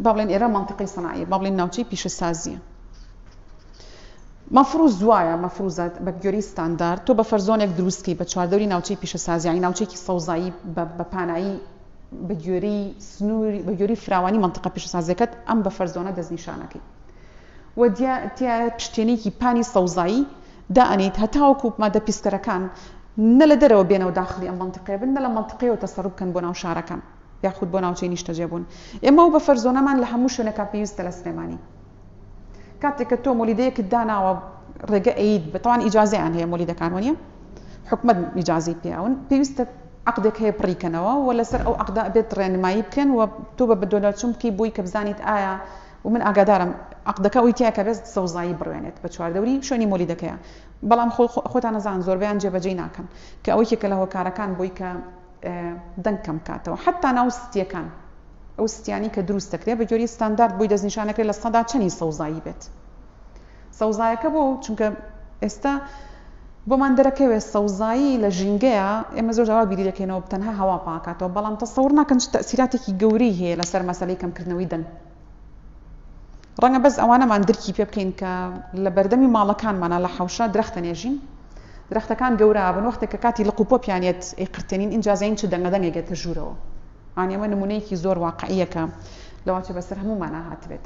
با بڵێن ئێرە منطقەی سەناعیە با بڵێن ناوچەی پیشەسازیە مەفروز وایە مەفروزات بە گوێری ستاندارد تۆ بە فەرزۆنێک دروستکی بە چواردەوری ناوچەی پیشەسازیانی ناوچێکی سەوزایی بە پانایی بە گوێری سنووری بە گوێری فراوانی منطقە پیشەسازەکەت ئەم بە فەرزۆنە دەستنیشانەکەی و تیا پشتێنێکی پانی سەوزایی دائەنێیت هەتاوەکو مادە پیسکەرەکان نە لە دەرەوە بێنە و داخلی ئەم مەنتیقەیە بن نە لە مەنتیقەیەوە تەسەڕوف بکەن بۆ ناو شارەکان یاخود بۆ ناوچەی نیشتەجێبوون. ئێمە ئەو بەفەر زۆنەمان لە هەموو شوێنەکان پێویستە لە سلێمانی کاتێک کە تۆ مۆلیدەیەکت داناوە ڕێگە ئەیت بە تاوان ئیجازەیان هەیە مۆلیدەکان وەنیە حکومت ئیجازی پیاون پێویستە عقدێک هەیە پڕیکەنەوە و لەسەر ئەو عقدا بێت ڕێنمایی بکەن و تۆ بە بەدۆلەچوم بکەی بۆی کە بزانیت ئایا و من ئاگادارم عەقدەکە ئەوی تیایە کە بێست سەوزایی بڕوێنێت بە چواردەوری شوێنی مۆلیدەکەیا بەڵام خۆتان ئەزان زۆربەیان جێبەجێی ناکەن کە ئەوە یەکێکە لە هۆکارەکان بۆی کە دەنگ کەم بکاتەوە حەتا ناو ستیەکان ئەو ستیانی کە دروست دەکرێت بە گوێری ستاندارد بۆی دەستنیشان دەکرێت لە سەدا چەنی سەوزایی بێت. سەوزایەکە بۆ چونکە ئێستا بۆمان دەرەکەوێت سەوزایی لە ژینگەیە ئێمە زۆر جاوا بیری دەکەینەوە تەنها هەوا پاکاتەوە بەڵام تەسەور ناکەن چ تەسیراتێکی گەورەی هەیە لەسەر مەسەلەی کەمکردنەوەی دەنگ ڕەنگە بەس ئەوانەمان درکی پێ بکەین کە لە بەردەمی ماڵەکانمانە لە حەوشە درەختە نێژین درەختەکان گەورە بن وەختێک کە کاتی لە قوپۆ پیانێت ئەی قرتێنین ئینجازین چ دەنگە دەنگێکێتە ژوورەوە ئانێمە نمونەیەکی زۆر واقعیەکە لەوانچە بەسەر هەموومانا هاتبێت.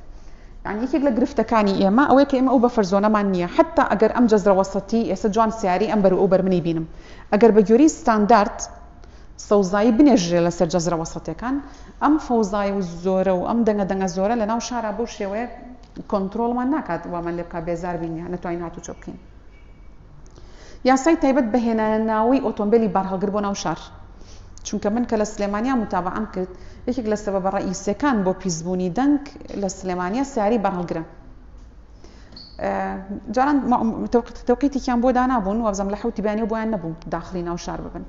یانی یەکێک لە گرفتەکانی ئێمە ئەوەیە کە ئێمە ئەو بەفەر زۆنەمان نییە، حەتتا ئەگەر ئەم جەزرە وەسەتی ئێستا جوان سیارەی ئەم بەر و ئەو بەر منی بینم، ئەگەر بە گوێرەی ستاندارد سەوزایی بنێژرێ لەسەر جەزرە وەسەتیەکان، ئەم فەوزای و زۆرە و ئەم دەنگە دەنگە زۆرە لەناو شارا بەو شێوەیە کۆنترۆڵمان ناکات وامان لێ بکات بێزار بین یا نەتوانین هاتوچۆ بکەین. یاسای تایبەت بە هێنانە ناوەی ئۆتۆمبێلی بارهەڵگر بۆ ناو شار چونکە من کە لە سلێمانیا متابەعەم کرد یەکێک لە سەبەبە ڕەئیسیەکان بۆ پیسبوونی دەنگ لە سلێمانیا سیارەی بارهەڵگرە جاران تەوقیتێکیان بۆ دانابوون وابزم لە حوتی بیانەوە بۆیان نەبوو داخلی ناو شار ببن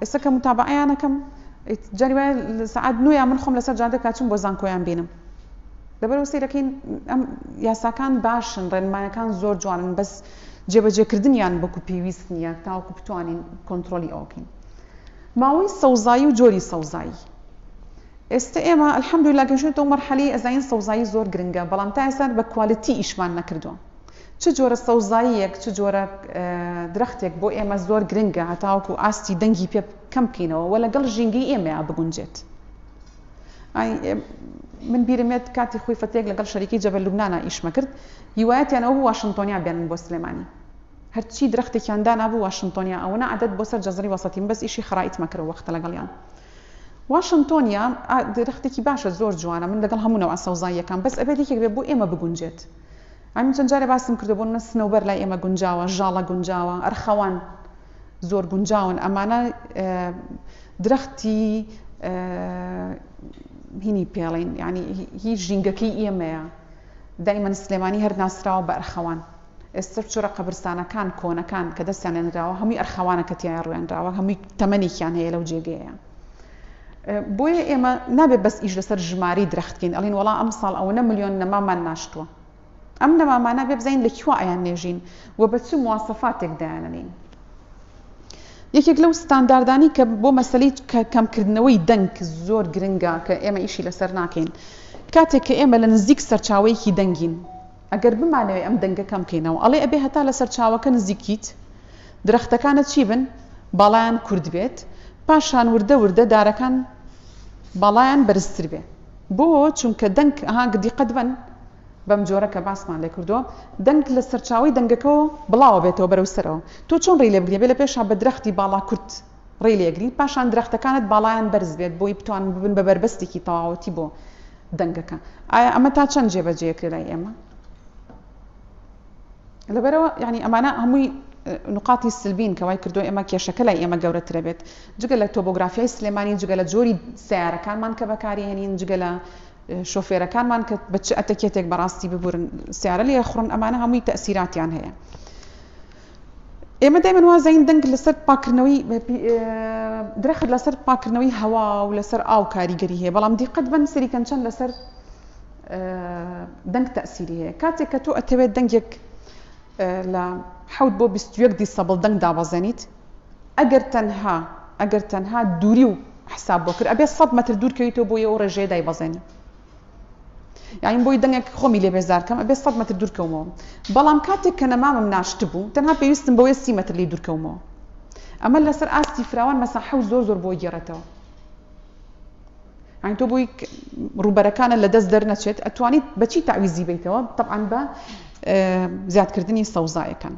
ئێستا کە متابعیانەکەم جاری وایە سعات نوێ من خۆم لەسەر جادە کاچم بۆ زانکۆیان بینم لەبەرئەوە سەیرەکەین ئەم یاساکان باشن ڕێنمایەکان زۆر جوانن بەس جێبەجێکردنیان وەکو پێویست نییە تاوەکو بتوانین کۆنترۆلی ئەوە بکەین ماوەی سەوزایی و جۆری سەوزایی ئێستا ئێمە الحمدلله گەشتەوە مەرحەلی ئەزانین سەوزایی زۆر گرنگە بەڵام تا ئێستا بە کوالتی ئیشمان نەکردووە چ جۆرە سەوزاییەک چ جۆرە درەختێک بۆ ئێمە زۆر گرنگە هەتاوەکو ئاستی دەنگی پێ کەم بکەینەوە وە لەگەڵ ژینگەی ئێمەیان بگونجێت ئای من بیرم یەت کاتی خوی فەتێک لەگەڵ شەریکی جەبەل لوبنانا ئیشمە کرد هیوایەتیان ئەوە بوو واشنتۆنیا بێنن بۆ سلێمانی هەرچی درەختێکیان دانابوو واشنتۆنیا ئەوەنە عەدەد بۆ سەر جەزری وەسەتیم بەس ئیشی خەرائیتمە کرد ئەو وەختە لەگەڵیان واشنتۆنیا ئا درەختێکی باشە زۆر جوانە من لەگەڵ هەموو نەوعە سەوزاییەکان بەس ئەبێت یەکێک بێت بۆ ئێمە بگونجێت ئەمن چەند جارێ باسم کردووە بۆ منە سنەوبەر لای ئێمە گونجاوە ژاڵە گونجاوە ئەرخەوان زۆر گونجاون ئەمانە درەختی هینی پێڵین یعنی هی ژینگەکەی ئێمەیە دایمەن سلێمانی هەر ناسراوە بە ئەرخەوان ئێستا چۆرە قەبرستانەکان کۆنەکان کە دەستیان لێنراوە هەمووی ئەرخەوانە کە تیایان ڕوێنراوە هەمووی تەمەنێکیان هەیە لەو جێگەیە بۆیە ئێمە نابێت بەس ئیش لەسەر ژماری درەختکەین ئەڵین وڵا ئەم ساڵ ئەوەنە ملیۆن نەمامان ناشتووە ئەم نەمامانە بێ بزانین لە کوا ئەیان نێژین و بە چ مواسەفاتێک دایانەنین. یەکێک لەو ستانداردانی کە بۆ مەسەلەی کەمکردنەوەی دەنگ زۆر گرنگە کە ئێمە ئیشی لەسەر ناکەین کاتێک کە ئێمە لە نزیک سەرچاوەیەکی دەنگین ئەگەر بمانەوەی ئەم دەنگە کەم کەینەوە ئەڵێ ئەبێ هەتا لە سەرچاوەکە نزیکیت درەختەکانە چی بن باڵیان کورد بێت پاشان وردە وردە دارەکان باڵیان بەرزتر بێ بۆ چونکە دەنگ ها دیقەت بەن بەم جۆرە کە باسمان لێ کردووە دەنگ لە سەرچاوەی دەنگەکەوە بڵاوە بێتەوە بەرەو سەرەوە تۆ چۆن ڕێی لێ بگری بێ لە پێشا بە درەختی باڵا کورت ڕێی لێ گری پاشان درەختەکانت باڵایان بەرز بێت بۆی بتوان ببن بە بەربەستێکی تەواوەتی بۆ دەنگەکە ئایا ئەمە تا چەند جێ بە جێیە کرێ لای ئێمە؟ لەبەرەوە یعنی ئەمانە هەمووی نقاتی سلبین کە وای کردو ئێمە کێشەکە لای ئێمە گەورەترە بێت جگە لە تۆبۆگرافیای سلێمانی جگە لە جۆری سیارەکانمان کە بەکاری هێنین جگە لە شۆفێرەکانمان کە بە چ ئەتەکێتێک بەڕاستی ببورن سیارە لێ خڕن ئەمانە هەمووی تەسیراتیان هەیە ئێمە دایمن وازین دەنگ لەسەر پاکردنەوەی درخت لەسەر پاکردنەوەی هەوا و لەسەر ئاو کاریگەری هەیە بەڵام دیقەت بەن سەریکەن چەند لەسەر دەنگ تەئسیری هەیە کاتێک کە تۆ ئەتەوێت دەنگێک لە حەوت بۆ بیست و یەک دیسەبڵ دەنگ دابەزێنیت ئەگەر تەنها ئەگەر تەنها دووری و حساب بۆ کرد ئەبێ سەد مەتر دوور کەویتەوە بۆ ئەو ڕێژەیە دایبەزێنی یاین بۆی دەنگێک خۆمی لێ بێزارکەم ئەبێ سەد مەتر دوور کەومەوە بەڵام کاتێک کە نەمامم ناشت بوو تەنها پێویستم بۆیە سی مەتر لی دوور کەومەوە ئەمە لەسەر ئاستی فراوان مەساحە و زۆر زۆر بۆ گێڕێتەوە یانی تۆ بۆی ڕووبەرەکانە لە دەست دەرنەچێت ئەتوانیت بەچی تاویزی بیتەوە طبعاان بە زیادکردنی سەوزایەکان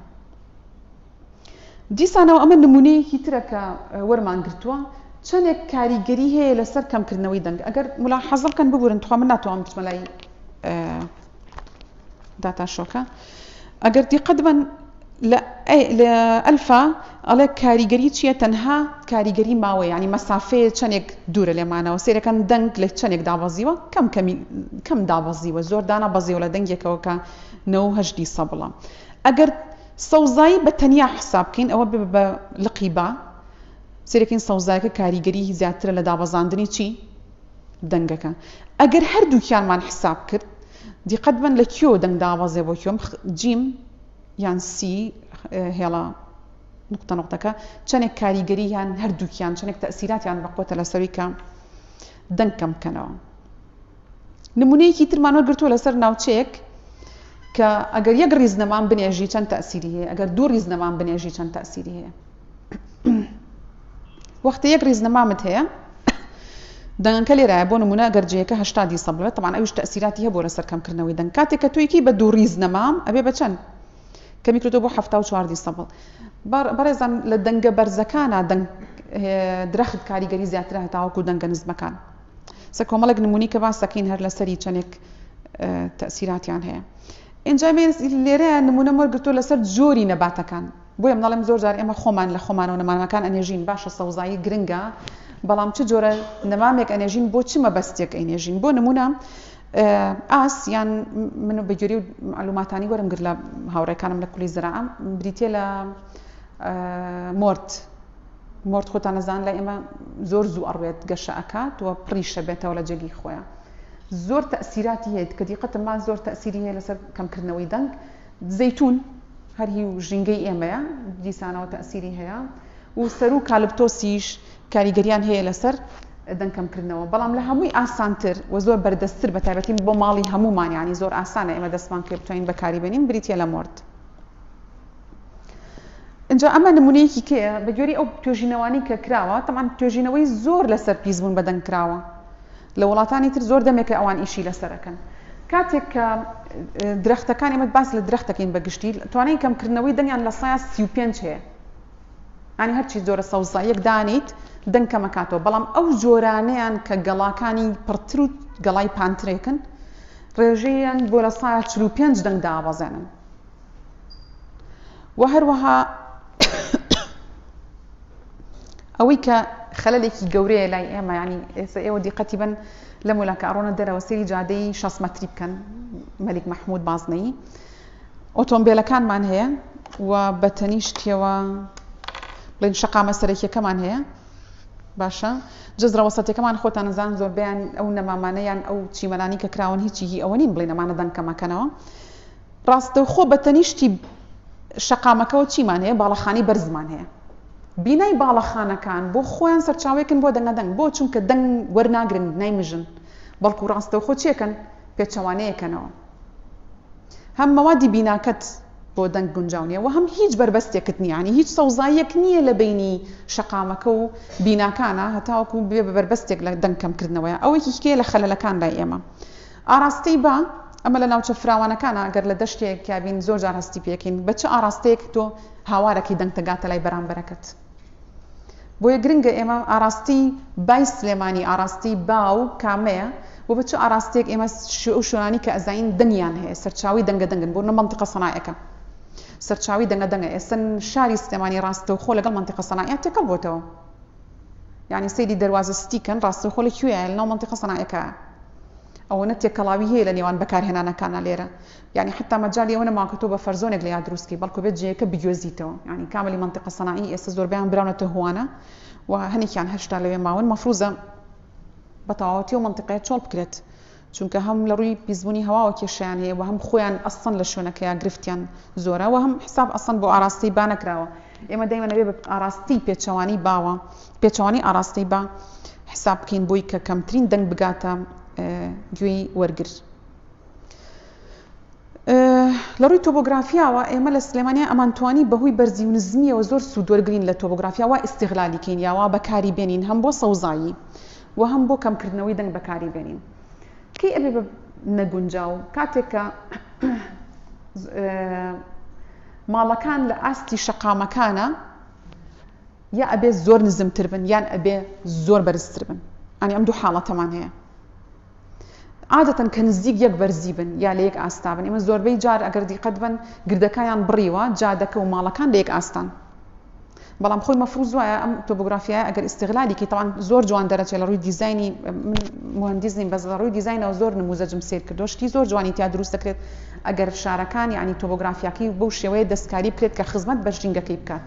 دیسانەوە ئەمە نمونەیەکی ترە کە وەرمان گرتووە چەندێک کاریگەری هەیە لەسەر کەمکردنەوەی دەنگ ئەگەر ملا حەزڵکەن ببورن تخوا من ناتوانم بچمەلای داتا شۆکە ئەگەر دیقەت بەن لە ئەلفا ئەڵێ کاریگەری چییە تەنها کاریگەری ماوە ینی مەسافەیە چەندێک دوورە لێمانەوە سێرەکەن دەنگ لە چەندێک دابەزیوە کەم کەمی کەم دابەزیوە زۆر دانا بەزیەوە لە دەنگێکەوە کە نەهدی سە بڵە ئەگەر سەوزایی بە تەنیا حساب بکەین ئەوە بە لقی با سێرەکەین سەوزایەکە کاریگەری زیاترە لە دابەزاندنی چی دەنگەکە ئەگەر هەردووکیانمان حساب کرد دیقەت بەن لە کیۆ دەنگ دابەزێ بۆ کیۆ جیم یان سی هێڵە نقطە نقطەکە چەنێک کاریگەری یان هەردووکیان چەنێک تەسیراتیان بەقوتە لەسەوی کە دەنگ کەم بکەنەوە نمونەیەکی ترمان وەگرتووە لەسەر ناوچەیەک کە ئەگەر یەک ریزنەمان بنێژی چەند تەسیری هەیە ئەگەر دوو ریزنەمان بنێژی چەند تەسیری هەیە وەختە یەک ڕیزنەمامت هەیە دەنگەکە لێرایە بۆ نمونە گەر جەیەکە هەشتا دیسە بڵێت تەمان ئەویش تەسیراتی هەبوو لەسەر کەمکردنەوەی دەنگ کاتێک کە تویکی بە دوو ڕیز نەمام ئەبێ بە چەند کەمی کردو بۆ هەفتا و چوار دیسە بڵ بەڕێزان لە دەنگە بەرزەکانە دەنگ درەخت کاریگەری زیاتر هەتاوەکو دەنگە نزمەکان سە کۆمەڵێک نمونی کە باسەکەین هەر لەسەری چەندێک تەسیراتیان هەیە ئەنجامێن لێرە نمونە مەرگتۆ لەسەر جۆری نەباتەکان بۆیە مناڵێم زۆر جار ئێمە خۆمان لە خۆمانەوە نەمامەکان ئەنێژین باشە سەوزایی گرنگە بەڵام چ جۆرە نەمامێک ئەنێژین بۆ چ مەبەستێک ئەینێژین بۆ نمونە ئاس یان من بە گوێری و معلوماتانی وەرم گرت لە هاوڕێکانم لە کولی زراعە بریتە لە مرد مرد خۆتانەزان لە ئێمە زۆر زوو ئەڕوێت گەشە ئەکات و پڕیشە بێتەوە لە جێگی خۆیان زۆر تەسیراتی هەیە کە دیقەتمان زۆر تەسیری هەیە لەسەر کەمکردنەوەی دەنگ زەیتون هەر هی و ژینگەی ئێمەیە، دیسانەوە تەئسیری هەیە و سەرو و کالبتۆسیش کاریگەریان هەیە لەسەر دەنگ کەمکردنەوە، بەڵام لە هەمووی ئاسانتر و زۆر بەردەستتر بە تایبەتی بۆ ماڵی هەموومان یانی زۆر ئاسانە ئێمە دەستمان پێ بتوانین بەکاری بێنین بریتیە لە مۆرد. ئینجا ئەمە نمونەیەکی کێیە بەگوێری ئەو توێژینەوانەی کە کراوە، تەبعەن توێژینەوەی زۆر لەسەر پیسبوون بە دەنگ کراوە، لە وڵاتانی تر زۆر دەمێکە ئەوان ئیشی لەسەر ئەکەن کاتێک کە درەختەکان ئێمە باس لە درەخت دەکەین بە گشتی توانای کەمکردنەوەی دەنگیان لە سایە سی و پێنج هەیە ئەنی هەرچی جۆرە سەوزاییەک دانیت دەنگ کەمەکاتەوە بەڵام ئەو جۆرانیان کە گەڵاکانی پڕتر و گەڵای پانترێکن ڕێژەیان بۆ لە سایە چل و پێنج دەنگ دابەزێنن و هەروەها ئەوەی کە خەلەلێکی گەورەیە لای ئێمە ینی ئێستا ئێوە دیقەتی بن لە مۆلاکە ئەڕۆنە دەرەوە سری جادەی شەست مەتری بکەن مەلیک مححمود بازنەی ئۆتۆمبیلەکانمان هەیە و بە تەنیشتەوە بڵین شقامە سەرەکیەکەمان هەیە باشە جزرە وەسەتەکەمان خۆتان نزان زۆربیان ئەو نەمامانەیان ئەو چیمەلانی کە کراون هیچی هی ئەوە نین بڵێ نەمانە دەنکەمەکەنەوە ڕاستەوخۆ بە تەنیشتی شەقامەکەوە چیمان هەیە؟ باڵەخانەی بەرزمان هەیە. بینای باڵەخانەکان بۆ خۆیان سەرچاوەیەکن بۆ دەنگەدەنگ. بۆ؟ چونکە دەنگ وەرناگرن بینای مژن، بەڵکو ڕاستەوخۆ چیەکەن؟ پێچەوانەیەکەنەوە. هەم مەوادی بیناکەت بۆ دەنگ گونجاو نیە و هەم هیچ بەربەستێکت نیە. یانی هیچ سەوزاییەک نیە لە بەینی شەقامەکە و بیناکانە هەتاوەکو ببێ بە بەربەستێک لە دەنگ کەمکردنەوەیا. ئەوەیەکیکەیە لە خەلەلەکان لای ئێمە. ئاراستەی با، ئەمە لە ناوچە فراوانەکانە گەر لە دەشتێک تیا بین زۆر جار هەستی پێکەین بە چ ئاراستەیەک تۆ هاوارەکەی دەنگتە گاتە لای بەرامبەرەکەت بۆیە گرنگە ئێمە ئاراستەی بای سلێمانی ئاراستەی با و کامەیە و بە چ ئاراستەیەک ئێمە ئەو شوێنانی کە ئەزانین دەنگیان هەیە سەرچاوی دەنگە دەنگن بۆ نە مەنتقە سەنایەکە سەرچاوی دەنگە دەنگە ئێستا شاری سلێمانی ڕاستەوخۆ لەگەڵ مەنتقە سەنایە تێکەڵ بۆتەوە یانی سەیری دەروازە ستی کەن ڕاستەوخۆ لە کوێیە لەناو مەنتیقە سەنایەکایە ئەوەنە تێکەڵاوی هەیە لە نێوان بەکارهێنانەکانا لێرە یانی حەتا مەجالی ئەوە نەماوە کە تۆ بە فەرزۆنێک لێیا دروست کەی بەڵکو بێت جێیەکە بگوێزیتەوە یانی کاملی مەنتیقە سەنائی ئێستا زۆربەیان براونەتە هوانە و هەنێکیان هەشتا لەوێ ماون مەفروزە بە تەواوەتی و مەنتیقەیە چۆڵ بکرێت چونکە هەم لە ڕووی پیسبوونی هەواوە کێشەیان هەیە و هەم خۆیان ئەسڵەن لە شوێنەکەیا گرفتیان زۆرە و هەم حیساب ئەسڵەن بۆ ئاراستەی با نەکراوە ئێمە دەیمە نەبێ بە ئاراستەی پێچەوانەی باوە پێچەوانەی ئاراستەی با حیساب بکەین بۆی کە کەمترین دەنگ بگاتە گوێی وەرگر لە ڕووی تۆبۆگرافیاوە ئێمە لە سلێمانیا ئەمانتوانی بەهوی بەرزی و نزمیەوە زۆر سوودوەرگرین لە تۆبۆگرافیاوا ئیسیغلالیکەین یاوا بەکاری بێنین هەم بۆ سەوزایی وە هەم بۆ کەم کردنەوەی دەنگ بەکاری بێنین کەی ئەبێ بە نەگونجاو کاتێک کە ماڵەکان لە ئاستی شەقامەکانە یا ئەبێ زۆر نزمتر بن یان ئەبێ زۆر بەرزتر بن ئەنی ئەم دوو حاڵەتەمان هەیە عادەتەن کە نزیک یەک بەرزی بن یا لە یەک ئاستا بن ئێمە زۆربەی جار ئەگەر دیقەت بن گردەکەیان بڕیوە جادەکە و ماڵەکان لە یەک ئاستان بەڵام خۆی مەفروز وایە ئەم تۆبگرافیایە ئەگەر ئیسیغلالیکی تاوان زۆر جوان دەرەچێت لە ڕووی دیزایانی مهندیز نیم بەس لە ڕووی دیزایینەوە زۆر نموزەجم سیر کردو شتی زۆر جوانی تیا دروست دەکرێت ئەگەر شارەکان یعنی تۆبگرافیاکەی بەو شێوەیە دەستکاری بکرێت کە خزمەت بە ژینگەکەی بکات.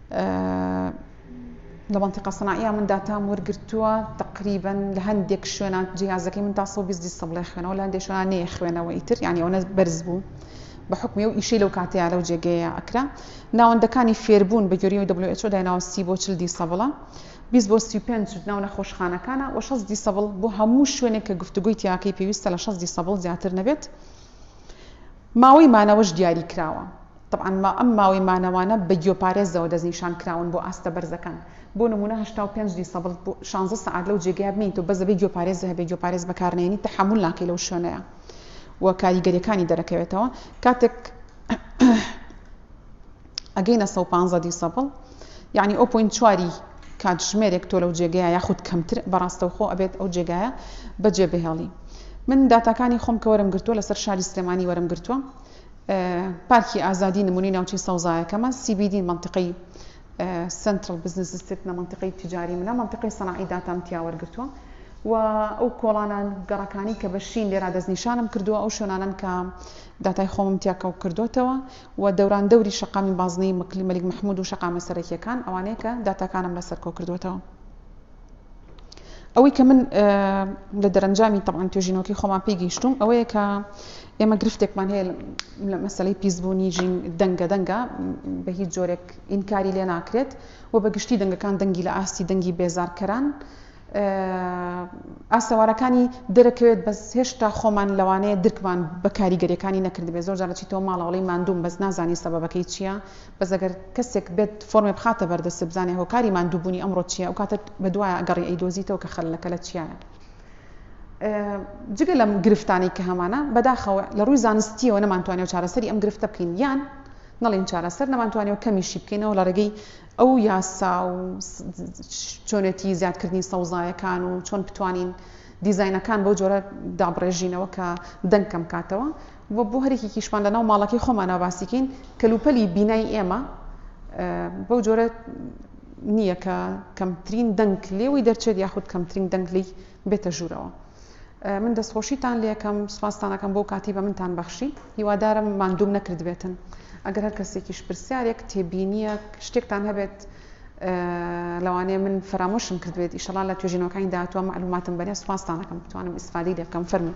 لە مەنتیقە سناعیە من داتام وەرگرتووە تقریبا لە هەندێک شوێنان جیازەکەی من تا 120 دیسبڵێ خوێنەوە لە هەندێک شوێنان نێ خوێنەوە ئیتر یعنی ئەوەنە بەرز بوو بە حکمی و ئیشەی لەو کاتەیە لەو جێگەیە ئەکرا ناوەندەکانی فێربوون بە گوێری و WHO دایناوە سی بۆ چل دیسەبڵە 20 بۆ 35 ناو نەخۆشخانەکانە و 6 دیسەبڵ بۆ هەموو شوێنێک کە گفتوگوی تیاکەی پێویستە لە 6 دیسەبڵ زیاتر نەبێت ماوەی مانەوەش دیاری کراوە تەبعەن ئەم ماوەی مانەوانە بە گیۆپارێزەوە دەستنیشان کراون بۆ ئاستە بەرزەکان بۆ نمونە هەشتا و پێنج دیسەبڵ بۆ شانزە سەعات لەو جێگەیە بمێی تۆ بەس دەبێ گیۆپارێزە هەبێ گیۆپارێز بەکار نێنی تەحەمول ناکەی لەو شوێنەیە و کاریگەریەکانی دەرەکەوێتەوە کاتێک ئەگەینە سە و پانزە دیسەبڵ یعنی ئەو پوین چواری کاتژمێرێک تۆ لەو جێگەیە یاخود کەمتر بەڕاستەوخۆ ئەبێت ئەو جێگایە بەجێ بهێڵی من داتاکانی خۆم کە وەرم گرتووە لەسەر شاری سلێمانی وەرم گرتووە پارکی ئازادی نمونەی ناوچەی سەوزایەکەمە، CBD مەنتیقەی Central Business District نە مەنتیقەی تجاری منە، مەنتیقەی سەناعی داتام تیا وەرگرتووە و ئەو کۆڵانە گەڕەکانی کە بە شین لێرا دەستنیشانم کردووە ئەو شوێنانەن کە داتای خۆمم تیا کەڵک کردۆتەوە و دەوران دەوری شەقامی بازنەی مەکلی مەلیک محمود و شەقامە سەرەکیەکان ئەوانەیە کە داتاکانم لەسەر کۆ کردووەتەوە. ئەوەی کە من لە دەرەنجامی تەبعەن توێژینەوەکەی خۆمان پێی گەیشتووم ئەوەیە کە ئێمە گرفتێکمان هەیە لە مەسەلەی پیسبوونی ژین، دەنگە دەنگە بە هیچ جۆرێک ئینکاری لێ ناکرێت و بە گشتی دەنگەکان دەنگی لە ئاستی دەنگی بێزارکەران ئاسەوارەکانی دەرەکەوێت بەس هێشتا خۆمان لەوانەیە درکمان بە کاریگەریەکانی نەکردبێ زۆر جارە چیتەوە ماڵەوەڵی ماندووم بەس نازانی سەبەکەی چییە بەزەگەر کەسێک بێت فۆرمێ بخاتە بەردەست بزانێ هۆکاری ماندووبوونی ئەمڕۆ چیە ئەو کاتە بە دوایە گەڕی ئەیدۆزیتەوە کە خەلەکە لە چیایە جگە لەم گرفتانەی کە هەمانە، بەداخەوە لە ڕووی زانستییەوە نەمانتوانیەوە چارەسەری ئەم گرفتە بکەین یان نەڵێین چارەسەر، نەمانتوانیەوە کەمیشی بکەینەوە لە ڕێگەی ئەو یاسا و چۆنێتی زیادکردنی سەوزایەکان و چۆن بتوانین دیزاینەکان بەو جۆرە دابڕێژینەوە کە دەنگ کەم کاتەوە و بۆ هەرێکێکیشمان لەناو ماڵەکەی خۆمانەوە باسیکەین کەلوپەلی بینای ئێمە بەو جۆرە نییە کە کەمترین دەنگ لێوەی دەرچێت یاخود کەمترین دەنگ لێی بێتە ژوورەوە. من دەستخۆشیتان لێکەم، سوپاستان ئەکەم بۆ ئەو کاتەی بە منتان بەخشی، هیوادارم ماندووم نەکردبێتن. ئەگەر هەر کەسێکیش پرسیارێک، تێبینییەک، شتێکتان هەبێت لەوانەیە من فەرامۆشم کردبێت، ئیشەڵا لە توێژینەوەکانی داهاتووە مەعلووماتم بەنێن، سوپاستان ئەکەم بتوانم ئیستفادەی لێ بکەم. فەرموو.